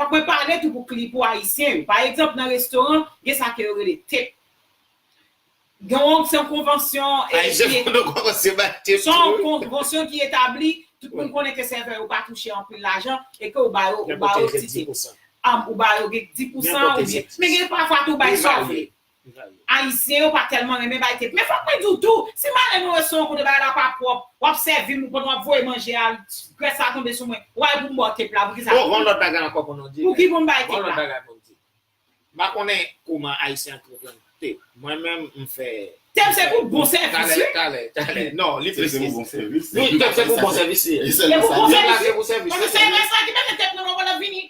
Fòk mwen pale tou pou kli pou ayisyen yo. Pa egzanp nan restoran gen sa ke yo rele tip. Gen yon se yon konvansyon e Ayisyen ki kono kòmanse bay tip se yon konvansyon ki etabli tout moun konnen ke sèvè yo pa touche anpil lajan e ke ou ba yo ou ba yo ti tip. Am ou ba yo gen k di pousan oubyen men gen pafwa tou bay sa w vle. Ayisyen yo pa tèlman renmen bay tip. Men fòk mwen di w tou, si m ale mwen wè se yon kote bagay la pa pwòp, w ap sèvi m, ou konn w ap voye manje a, grès la tonbe sou mwen, w al pou m ba w tip la, poukisa? Bon, gen yon lòt bagay ankò pou nou di. Pouki pou m bay tip la? Gen yon lòt bagay pou m di. M pa konnen kouman Ayisyen antreprann tip. Mwen menm, m fè. Tip se pou bon sèvis wi. Talè, talè, talè. Non, li plis ke sa. Tip se pou bon sèvis. Wi, tip se pou bon sèvis li ye. Se pou bon sèvis wi. Paske se grès la ki mete tip nan mwen pou l ap vini.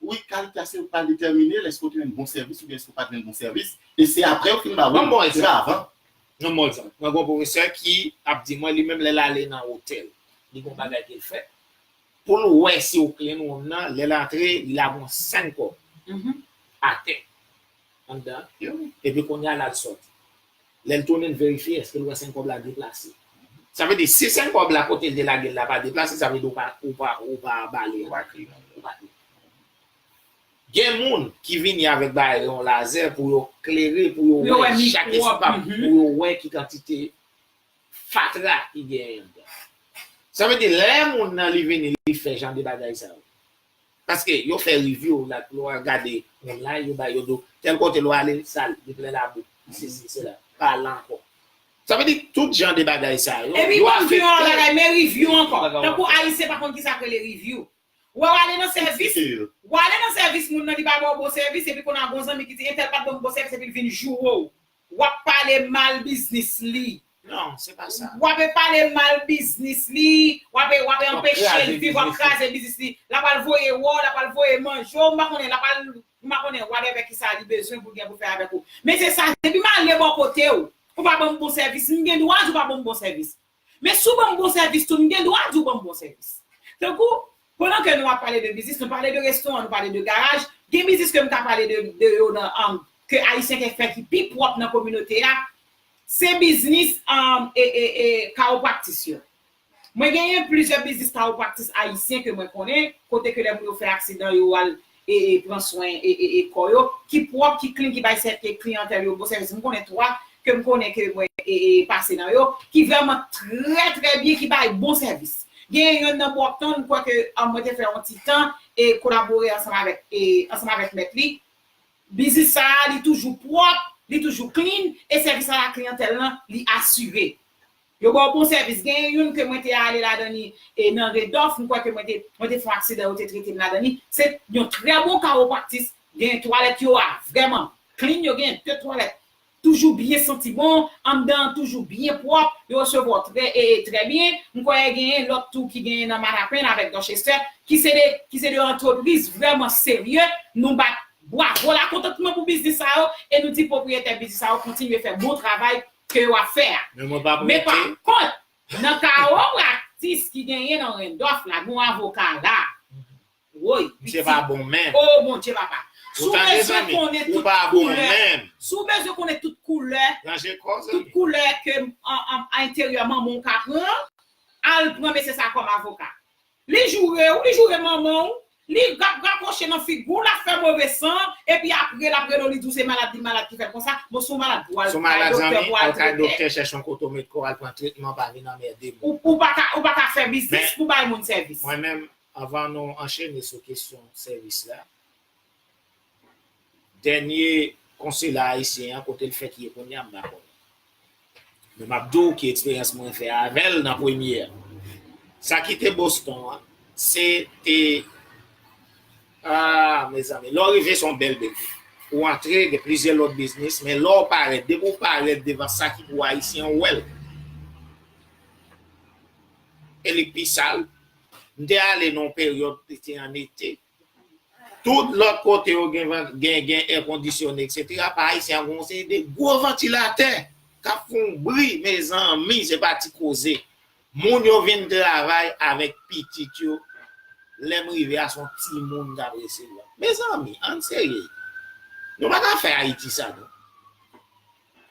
Wi kalite a se ou k pral detèmine l èske ou te jwenn bon sèvis oubyen èske ou pa t jwenn bon sèvis e se aprè yo fin ba ou kontra avan. Yon bon egzanp, mwen gen yon pwofesè ki ap di mwen li menm lè l ale nan otèl li gen yon bagay ke l fè pou l wè si ou clean wonm nan lè l antre li lage yon 5 kòb atè anndan epi kounye a l al sòti. Lè l tounen l verifye èske l wè sen kòb la deplase. Sa vle di si sen kòb la kote l te lage l la pa deplase sa vle di ou pa ou pa bale l. Ou pa kliyen l. Ou pa kliyen l. Gen moun ki vini avèk bagay yo yon lazè pou yo klere pou yo wè chak espam pou yo wè ki kantite fatra ki genyen anndan. Sa vle di lè moun nan li vini li fè jan de bagay sa yo. Paske yo fè review la nou al gade online yo bay yo di w tèl kote lè w ale l sal, li plen labou, li sesi, sela. Pa al la ankò. Sa vle di tout jan de bagay sa yo, yo afekte. Epi m ap di w yon lòt bagay, men review ankò. Tankou Ayisyen pa konn kisa k rele review. Ou wè w ale nan sèvis, w ale nan sèvis moun nan li pa ba w bon sèvis epi kounya gon zanmi ki di entèl pa t ban m bon sèvis epi l vin joure w. Wap pale mal biznis li. Non se pa sa. Wap e pale mal biznis li. Wap e wap e anpechel viv wap kraze biznis li. La pral voye wou la pral voye manje w m pa konnen la pral m pa konnen whatever kisa li bezwen pou l gen pou l fè avèk ou. Men se sa depi m ale bò kote w ou pa banm bon sèvis m gen dwa di w pa banm bon sèvis. Men si w ban m bon sèvis tou, m gen dwa di w ban m bon sèvis. Tankou, pandan ke nou ap pale de biznis, nou pale de restoran, nou pale de garaj, gen biznis ke m ka pale de de yo nan an ke Ayisyen ke fè ki pi pwòp nan kominote a, se biznis an e e e kawopractis yo. Mwen genyen plizyè biznis kawopractis Ayisyen ke mwen konnen, kote ke lè moun yo fè aksidan yo al e pran swen e kò yo ki pwòp ki klin ki bay sè ke kliyantèl yo bon sèvis m konnen 3 ke m konnen ke mwen e pase nan yo ki vrèman trè trè byen ki bay bon sèvis genyen yonn nan Brockton m kwè ke mwen te fè yon ti tan e kolabore ansanm avèk e ansanm avèk mèt li biznis sa a li toujou pwòp li toujou klin e sèvis a la kliyantèl lan li asire. Yo baw bon sèvis. Genyen youn ke mwen te ale ladan li e nan Redòf, m kwè ke mwen te mwen te fè yon aksidan yo te trete m ladan li. Se yon trè bon kawopraktis. Genyen twalèt yo a vrèman clean, yo genyen de twalèt toujou byen santi bon, anndan an toujou byen pwòp, yo resevwa w trè e trè byen. M kwè genyen lòt tou ki genyen nan Manhattan avèk Dorchester ki se de ki se de antrepriz vrèman serye. Nou bat bwavo lakontantman pou biznis sa yo e nou di pwopriyetè biznis sa yo kontinye fè bon travay ke wap fè a. Men mwen pa prete. Men pa kont, nan ka ou praktis ki genyen nan Rendòf la, gen yon avoka la. Woy, pitit. Misye pa bon menm. Oh mon Dye papa. Ou tande zanmi, ou pa bon menm. Si w bezwen konnen tout koulè. Ranje kò w zanmi. Tout koulè ke enteryèman manman w ka pran, al pran mesye sa kòm avoka. Li joure ou, li joure manman ou, li ap rakwoche nan figi ou, lap fè move san, epi apre lap rele w li di w se malad li malad ki fè l konsa, bon si w malad pou al kay doktè pou al trete. Ou paka chèche yon kote w met kò w al pran tretman pa vin anmède moun. Ou paka ou paka fè biznis pou bay moun sèvis. Mwen menm anvan nou anchene sou kesyon sèvis la, Dènye konsila ayisyen an kote l fèk ye kounya m pa konnen. Men m ap di w ki eksperyans mwen fè avè l nan premye a. Sa ki te Boston an se te aah mezanmi lè w rive se yon bèl bgy. Ou antre gen plizyè lòt biznis men lè w parèt depi w parèt devan sa ki pou ayisyen ou wè l e li pi sal. M te ale nan yon peryòd li te an ete. Tout lòt kote yo gen gen gen èkondisyone etc pa ayisyen an gen yon seri de gwo vantilatè kap fè yon bri mezanmi se pa ti koze moun yo vin travay avèk pitit yo lèm rive a son timoun kap resevwa mezanmi ann serye nou paka fè ayiti sa non.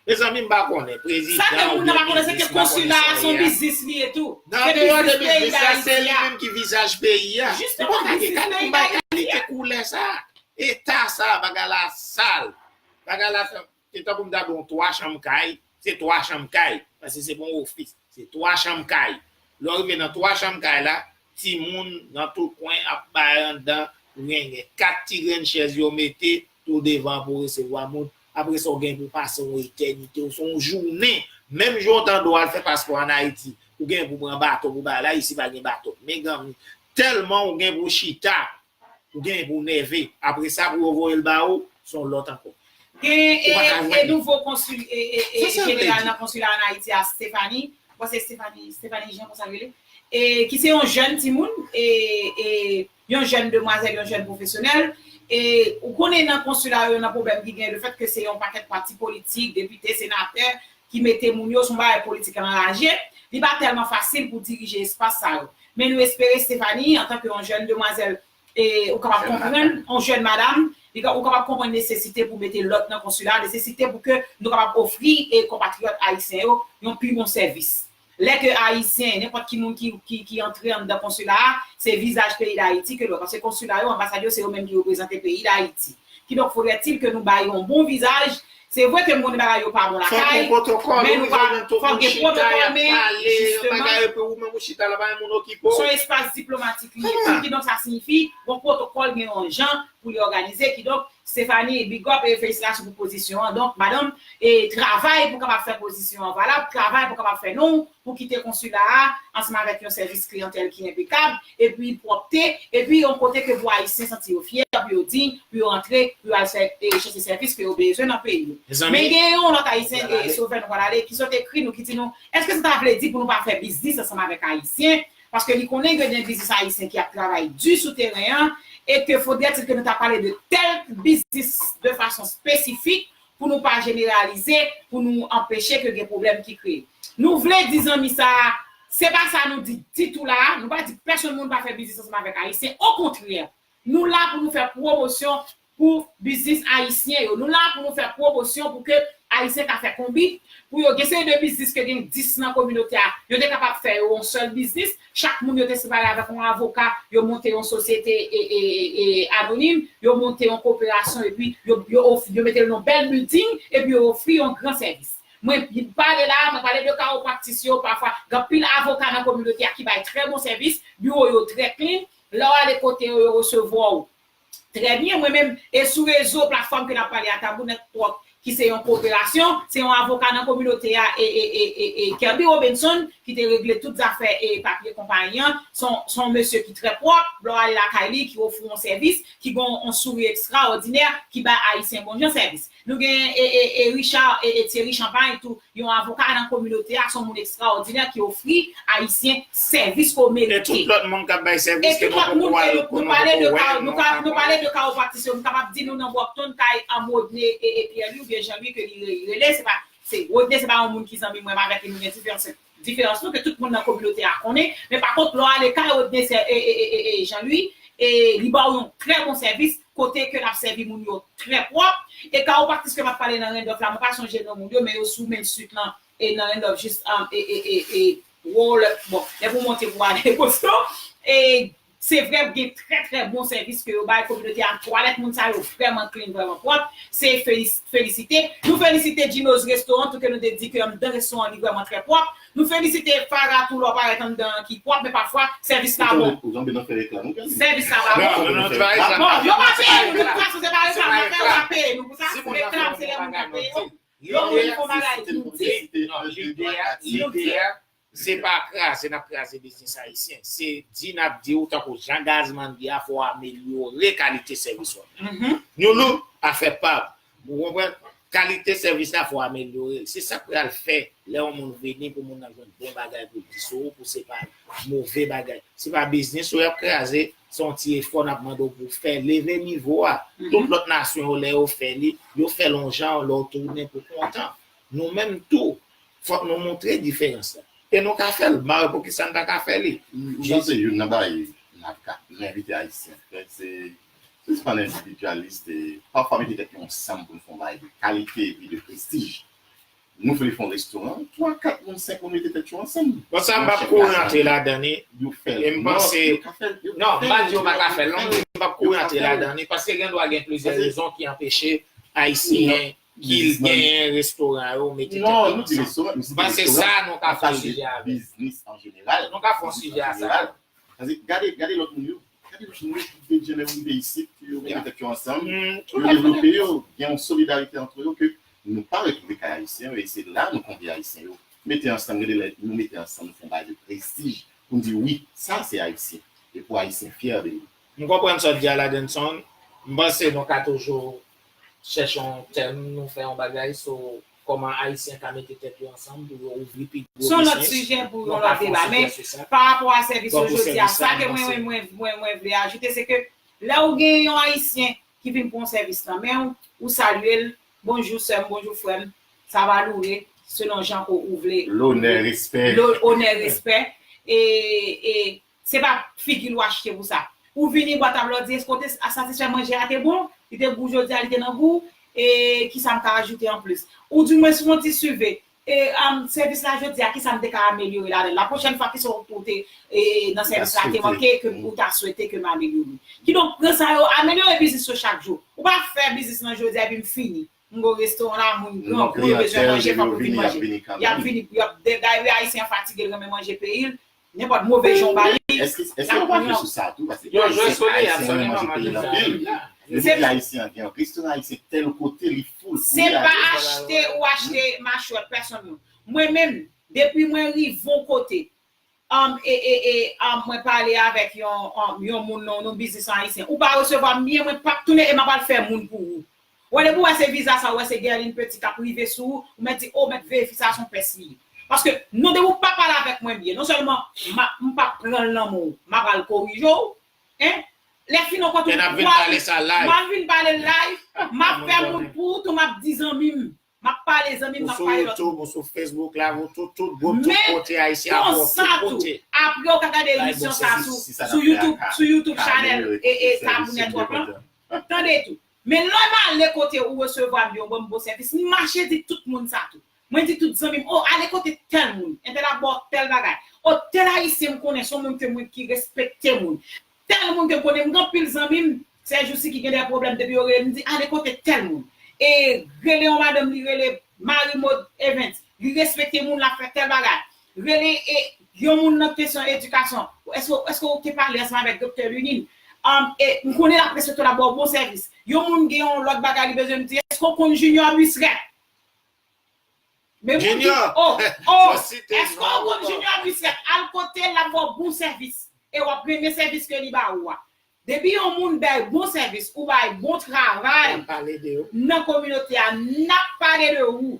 Mezanmi m pa konnen prezidan oubyen biznis m pa konnen sa ye a. Sa ke moun nan pa konnen se ke konsila a se yon biznis li ye tou. Nan andeyò de biznis la se li menm ki vizaj peyi a. Jisteman sa se vizaj peyi dayiti a. M pa gen kalite koulè sa. Eta sa bagay la sal. Bagay la se tankou m ta di w 3 chanm kay se 3 chanm kay paske se pa yon ofis se 3 chanm kay. Lè w rive nan 3 chanm kay la timoun nan tout kwen ap bay anndan rengen. 4 ti grenn chèz yo mete Tou devan pou w resevwa moun. Apre sa w gen pou w pase yon etènite oswa yon jounen, menm jan w ta dwe al fè paspò an Ayiti, ou gen pou w pran bato pou w bay la, isi pa gen bato. Meganmi, tèlman ou gen pou w chita, ou gen pou w nève. Apre sa pou yo voye l ba ou, se yon lòt ankò. Ou pa ka jwenn li. Nouvo konsil jeneral nan konsila an Ayiti a, Stéphanie, mwen panse se Stéphanie Jean konsa l rele, ki se yon jèn timoun, yon jèn demwazèl, yon jèn pwofesyonèl, e ou konnen nan konsila yo nan pwoblèm ki genyen lefèt ke se yon pakèt pati politik, depite, senatè ki mete moun yo, se yon bagay politik anraje, li pa tèlman fasil pou dirije espas sa yo. Men nou espere Stéphanie, antan ke yon jèn demwazèl, e ou kapab konprann, yon jèn madam, ou kapab konprann nesesite pou mete lòd nan konsila, nesesite pou ke nou kapab ofri konpatriyòt ayisyen yo yon pi bon sèvis. Lè ke Ayisyen, nenpòt ki moun ki antre anndan konsila a, se vizaj peyi Dayiti ke l wè. Paske konsila yo, anbasad yo, se yo menm ki reprezante peyi Dayiti. Kidonk faudrait-il ke nou bay yon bon vizaj. Se vre ke m konnen bagay yo pa bon lakay, men nou pa, fòk gen pwotokòl, wi, fòk gen pwotokòl, men, jisteman, s on espas diplomatik li ye, kidonk sa siyifi, gon pwotokòl, gen yon jan pou li òganize kidonk Stephanie big up e felisitasyon pou pozisyon an donk madanm e travay pou kapab fè pozisyon an valab travay pou kapab fè non pou kite konsila a ansanm avèk yon sèvis kliyantèl ki enpekab epi pwòpte epi yon kote ke pou ayisyen santi yo fyè pou yo dign pou yo antre pou yo al fè e chèche sèvis ke yo bezwen nan peyi yo men gen yon lòt ayisyen e sovè nou pral ale ki sot ekri nou ki di nou èske sa ta vle di pou nou pa fè biznis ansanm avèk ayisyen paske li konnen gen de biznis ayisyen ki ap travay di sou teren an e ke fodètil ke nou ta pale de kèlk biznis de fason spesifik pou nou pa jeneralize pou nou anpeche ke gen pwoblèm ki kreye. Nou vle di zanmi sa a, se pa sa nou di ditou la a, nou pa di pèsonn moun pa fè biznis ansanm avèk ayisyen, okontrè, nou la pou nou fè pwomosyon pou biznis ayisyen yo nou la pou nou fè pwomosyon pou ke ayisyen ka fè konbit pou yo gen seri de biznis ke gen 10 nan kominote a yo te kapab fè yo yon sèl biznis chak moun yo te separe avèk yon avoka yo monte yon sosyete anonim yo monte yon koperasyon epi yo mete l nan yon bèl bilding epi yo ofri yon gran sèvis mwen pale la a mwen pale de karopraktis yo pafwa gen anpil avoka nan kominote a ki bay trè bon sèvis biwo yo trè klin lè w ale kote yo yo resevwa w Trè byen, mwen menm, e sou rezo, platfòm ke n ap pale a, Tabou Nèt Twòk, ki se yon koperasyon, se yon avoka nan kominote a, e, e, e, e, e, Kerby Robinson, ki te regle tout zafè e papye konpayi an, se yon, se yon mesye ki trè pwòp, lè w ale lakay li, ki ofri yon sèvis, ki gen yon souri ekstraòdinè, ki bay Ayisyen bon jan sèvis. Nou gen e Richard e Thierry Champagne tou, yon avoka nan kominote a, son moun ekstraòdinè ki ofri Ayisyen sèvis ke w merite. E tout lòt moun kap bay sèvis ke nou poko wè, ke nou poko wè, nou pa konn. Nou pale de kawopratis yo, m kapab di nou nan Brockton kay Rodney e Pierre-Louis oubyen Jean-Louis ke li rele, se pa, se Rodney se pa yon moun ki zanmi mwen, m avèk li nou gen diferans. Diferans nou ke tout moun nan kominote a konnen, men pa kont lè w ale kay Rodneyser e Jean Louis e li ba w yon trè bon sèvis kote ke lap sèvi moun yo trè pwòp e kawopractis ke map pale nan Randolph la mwen pa sonje non moun yo men yo sou Main Street lan e nan Randolph jis e e e e Roller bon lè pou w monte pou w ale Boston e Se vre gen trè trè bon sèvis ke yo bay kominote a, twalèt moun sa yo vrèman klin, vrèman pwòp, se felisite. Nou felisite Djino's Restaurant tou ke nou te di ke anndan restoran an li vrèman trè pwòp. Nou felisite Farah tou lè w parèt anndan an ki pwòp men pafwa sèvis pa bon. Sèvis la pa bon. Bon, yo pa peye nou tout fason se pa reklam nap fè yo pa peye nou pou sa, reklam se lè moun kap peye w. Yon moun di yon bagay nou di. Se pa kraze nap kraze biznis ayisyen, se di nap di ou tankou jan Gazman di a fò w amelyore kalite sèvis wap bay. Nou nou pa fè pab, ou konprann, kalite sèvis la fò amelyore l, se sak pral fè lè yon moun vini pou moun nan jwenn bon bagay pou l di sou ou pou se pa move bagay. Se pa biznis ou yap kraze, se yon ti efò nap mande w pou w fè, leve nivo a. Tout lòt nasyon yo lè yo fè li, yo fè l yon jan lè w tounen pou kontan. Nou menm tou fòk nou montre diferans la. E nou ka fè l, ba yo poukisa n pa ka fè li. M panse youn nan bagay n ap ka envite Ayisyen fè se sispann endividyalist e pafwa mete tèt nou ansanm pou n fè yon bagay de kalite epi de prestij. Nou vle fè yon restoran, twa, kat moun, senk moun mete tèt yo ansanm. Bon sa m p ap kouri antre ladan li e m panse, non m pa di yo pa ka fè l non, m p ap kouri antre ladan li paske gendwa gen plizyè rezon ki anpeche Ayisyen Kil genyen restoran yo mete tèt ansanm. M panse sa nou ka fon sijè avèl. Nou ka fon sijè a sa tou. Gade lòt moun yo. Gade lòt moun yo ki te janm rive isit ke yo mete tèt yo ansanm. Yo devlope yo. Gen yon solidarite antre yo ke nou pa retwouve kay ayisyen yo e se la nou konvye ayisyen yo. Mete ansanm gade lè nou mete ansanm nou fon bagay de prestij pou n di wi sa se ayisyen e pou ayisyen fyè de li. M konprann sa w di a Ladenson. M panse nou ka toujou chèche yon tèm nou fè yon bagay so kòman ayisyen ka mete tèt yo ansanm pou yo ouvri pi gwo Son lòt bisnis sijè pou yon lòt deba men pa rapò a sèvis yo jodi a sa ke mwen mwen mwen vle ajoute se ke lè ou gen yon ayisyen ki vin pran yon sèvis nan men ou ou salye l bonjou sè m bonjou frè m sa va loure selon jan ke ou vle Lonè respè Lonè respè e e Se pa figi l ou achte pou sa. Ou vini bwat a blòdye eske w te satisfè manje a te bon? Li te gou jodi a li te nan gou? E kisa m ka ajoute anplis? Ou di mwen sou yon ti suve. E sèvis la jodi a kisa m te ka amelyore ladan l? La pwochèn fwa kisa w te nan sèvis la te manke ke ou ta swete ke m amelyore? Kidonk pran sa yo amelyore biznis yo chak jou. Ou pa fè biznis lan jodi a epi m fini. M gou restoran la moun gran kou yo bezwen manje fok yo vin manje yap vini pou yap bgy wi ayisyen an fatige l renmen manje peyi l nenpot move jan w ba li lap pran yon Yon jwè soni a soni pa mal nan sa Se pa achte ou achte machwè pèsonn moun mwen menm depi mwen rive yon kote Humm e e e humm mwen pale avek yon humm yon moun non non biznis an ayisyen ou pa resevwa m byen mwen pap tounen e map al fè moun pou ou wè depi w wè se viza sa ou wè se Guerline Petit kap rive sou ou ou mèt di oh mèt veye fi sa son pès li ye paske non depi w pa pale avek mwen byen non sèlman map m pap pran l nan men w map al korije w hein lè fin on kont ou m ap vin pale sa live map vin pale l live map fè moun pou ou tou map di zanmi m Map pale zanmim map pale lot moun. Ou sou YouTube, ou sou Facebook la, ou tout tout group, tout kote ayisyen ap bon tout kote. Aprè ou ka gade emisyon sa sou YouTube, sou YouTube chanèl Tabou Network lan. Tande tou. Men lè m ale kote ou resevwa m byen ou banm bon sèvis, m mache di tout moun sa tou. Mwen di tout zanmi m, oh ale kote tèl moun, entèl ap ba w tèl bagay. Oh tèl ayisyen m konnen son moun ke mwen ki respekte moun. Tèl moun te konnen m gen anpil zanmi m sè jousi ki gen dè pwoblèm depi yo rele m di ale kote tèl moun e rele yon madanm li rele Marie Maude Evens li respekte moun lap fè tèl bagay rele e yon moun nan kesyon edikasyon èske ou te pale ansanm avèk doktè Lunine e m konnen lap respekte w lap ba w bon sèvis yon moun gen yon lòt bagay li bezwen m di èske ou konn Junior Buisreth Men moun ki Junior! oh oh Yo site Eske non w ou konn man. Junior Bisrep al kotel lap baw bon sèvis e wap renmen sèvis ke li ba ou a depi yon moun bèy bon sèvis ou bay bon travay Nap pale de ou. nan kominote a nap pale de ou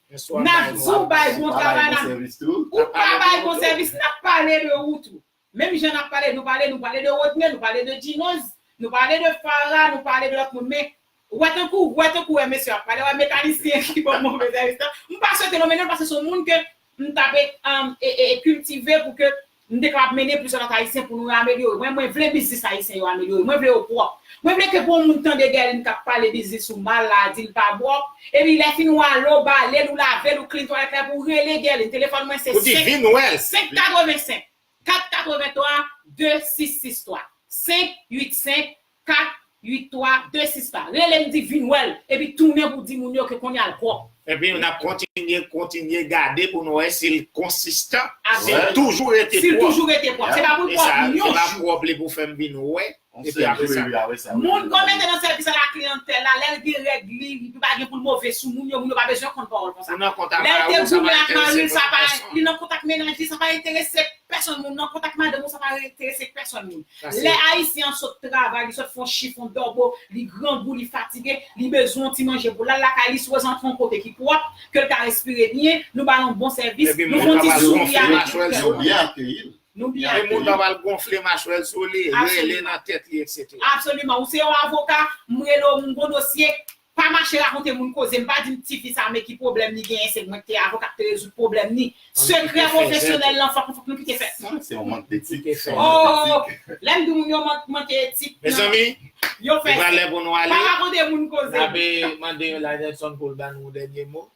Eske wap nap bay di bon ou bay sèvis? bon Wap bay travay bon nap sèvis tou sèvis tou? ou pa bay bon sèvis nap pale de ou tou Menm jan nap pale nou pale nou pale de Rodney nou pale de Djinoz nou pale de Farah nou pale de lòt moun men wè tankou wè tankou wè mesye ap pale wè mekanisyen ki pran move sèvis la m pa swete nonmen non l paske se yon moun ke m ta pe kiltive pou ke m te kapab mennen plizyè lòt ayisyen pou nou amelyore mwen mwen vle biznis ayisyen yo amelyore mwen vle yo pwòp Mwen vle ke pou yon moun tande Guerline kap pale biznis ou mal la dil pa bro, epi lè fin wa lo balel ou lavel ou clean twalèt la epou rele Guerline telefòn mwen se 5 585 483 2663 5 85 483 26 pa relem di vin wèl epi tounen pou di moun yo ke konnya l pwòp. Epi nap kontinye kontinye gade pou nou wè sil konsistan sil toujou rete pwòp sil toujou rete pwòp se pa poul pwòp yon jou se pa pwòp li pou fèm vin wè Yon sèl jou wi wi awe sa. Moun kon mete nan sèvis ala kliyantèl la lèl gen règ li li pa gen poul move sou moun yo moun yo pa bezwen konn pawòl konsa lèl te goumen ak maril sa pa li nan kont ak mennaj li sa pa enterese pèsonn moun nan kont ak madanm ou sa pa enterese pèsonn moun lè ayisyen an sot travay li sot fon chif on dòbo li grangou li fatige li bezwen on ti manje pou lal lakay li si wè zantre on kote ki pwòp kel ka respire byen nou bal on bon sèvis nou fon ti souri avèl yo byen akeyil. Nou byen Yon moun pap al gonfle machwè l sou li, rele nan tèt li etc. Absoliman, ou se yon avoka, m rele w, m gon dosye, pa mache rakonte moun koze m, pa di m ti fi sa men ki pwoblèm li genyen se mwen k te avoka k te rezoud pwoblèm ni. Sekrè pwofesyonèl lan fòk nou kite fè. Sa se yon mank detik. Oo, lè m di moun yo manke etik. Mezanmi, li pral lè pou nou ale. Pa rakonte moun koze. N ape mande Ladelson pou l ba nou yon dènye mo.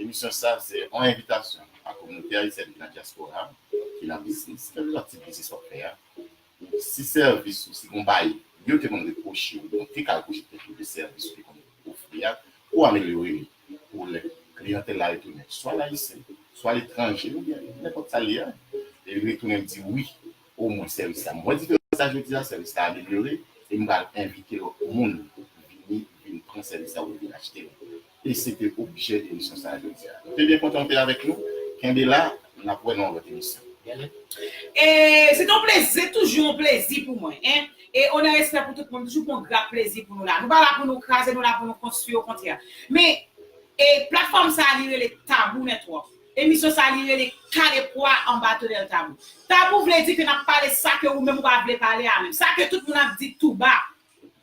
Emisyon sa a se yon envitasyon a kominote ayisyèn ki nan dyaspora a, ki nan biznis, kèlkeswa tip biznis w ap fè a, pou si sèvis ou, si gon baye yo te konn repwoche w oubyen yo te ka repwoche tèt yo de sèvis ou te konn ofri a, pou w amelyore li pou lè kliyantèl la retounen, swa l ayisyen, swa l etranje oubyen nenpòt sa l ye a, e li retounen l di wi O mwen sèvis la. M wè diferans la jodi a, sèvis la amelyore e m pral envite lòt moun vini vin pran sèvis la oubyen vin achte l. E se te objè emisyon sa a jodi a. Nou te byen kontan ou te avèk nou. Kenbe la, n ap wè nou nan yon lòt emisyon. E se te yon plezi, se toujou yon plezi pou mwen. E onè respè pou tout moun, toujou pou yon grap plezi pou nou la. Nou pa la pou nou kraze, nou la pou nou konstwi okontrè. Men, e platfòm sa a li rele Tabou Network. Emisyon sa li rele kale pwa anba tonèl tabou. Tabou vle di ke nap pale sa ke ou menm ou pa vle pale a menm, sa ke tout moun ap di tou ba.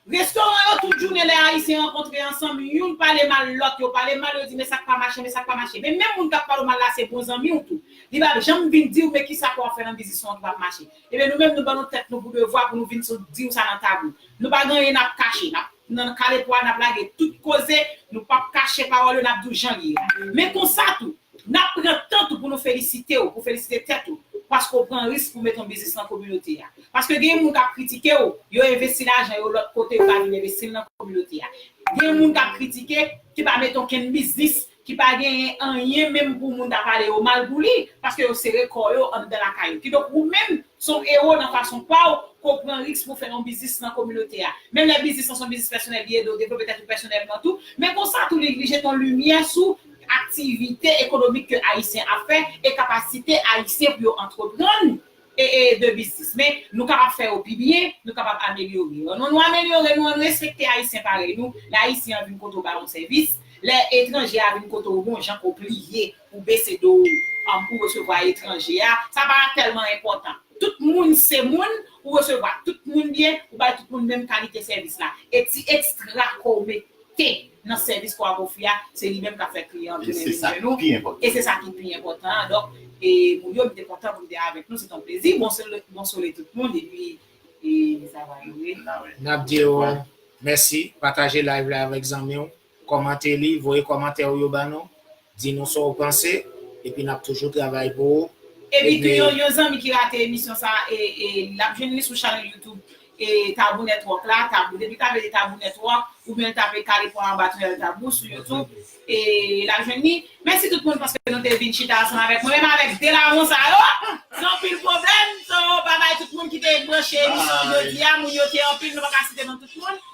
Restoran yo tout jounen lè ayisyen rankontre ansanm youn pale mal lòt, yo pale mal yo di men sak pa mache men sak pa mache. Men menm moun kap pale w mal la se bon zanmi w tou. Li pap janm vin diw men kisa pouw ap fè nan biznis ou an ki pap mache. Ebyen nou menm nou ban nou tèt nou pou devwa pou nou vin sou diw sa nan tabou. Nou pa gen anyen nap kache, nap nan kale pwa nap lage tout koze, nou pap kache pawòl yo nap diw jan li ye a. Men konsa tou, nap pran tan tou pou nou felisitew, pou felisite tèt ou, paske w pran risk pou met yon biznis nan kominote a. Paske gen moun kap kritikew, yo envesti lajan yo lòt kote yo pa vin envestil nan kominote a. Gen moun kap kritike ki pa met onkenn biznis ki pa genyen anyen menm pou moun ta pale yo mal pou li, paske yo sere kò yo anndan lakay yo. Kidonk ou menm, se yon ewo nan fason pa w, ke w pran risk pou w fè yon biznis nan kominote a. Menm lè biznis lan se yon biznis pèsonèl li ede w devlope tèt ou pèsonèlman tou, men konsa tou li jete yon limyè sou aktivite ekonomik ke Ayisyen ap fè e kapasite Ayisyen pou yo antreprann, ee de biznis men nou kapab fè yo pi byen nou kapab amelyore yo non nou amelyore nou an nou respekte ayisyen parèy nou lè ayisyen an vin kote w ba yon sèvis lè etranje a vin kote w bon jan ke w pliye pou w bese do w pou w resevwa etranje a sa pa tèlman enpòtan tout moun se moun ou resevwa tout moun byen ou bay tout moun menm kalite sèvis la e ti ekstra ke w mete. te nan sèvis kwa kofi a se li menm kap fè kliyan an tounen vin jwenn ou e se sa ki pi enpòtan an donk moun yo m te kontan pou m te avèk nou se t on plezi bon sole tout moun epi sa va rive nap di ou mèsi pataje live la avèk zanmi ou kòmante li voye kòmantè ou yo ba nou Di nou sa w panse, epi n ap toujou travay pou ou. Epi tou yon yon zanmi ki rate emisyon sa e e l ap jwenn li sou channel youtube e tabou network la tabou depi tape li tabou network oubyen l tape kalifò anba tonyèl tabou sou youtube e l ap jwenn li mèsi tout moun paske nou te vin chita ansanm avèk mwen menm avèk 2 lawon sa yo gen anpil pwoblèm so bye bye tout moun ki te branche emisyon jodi a moun yo te anpil nou pa ka site non tout moun.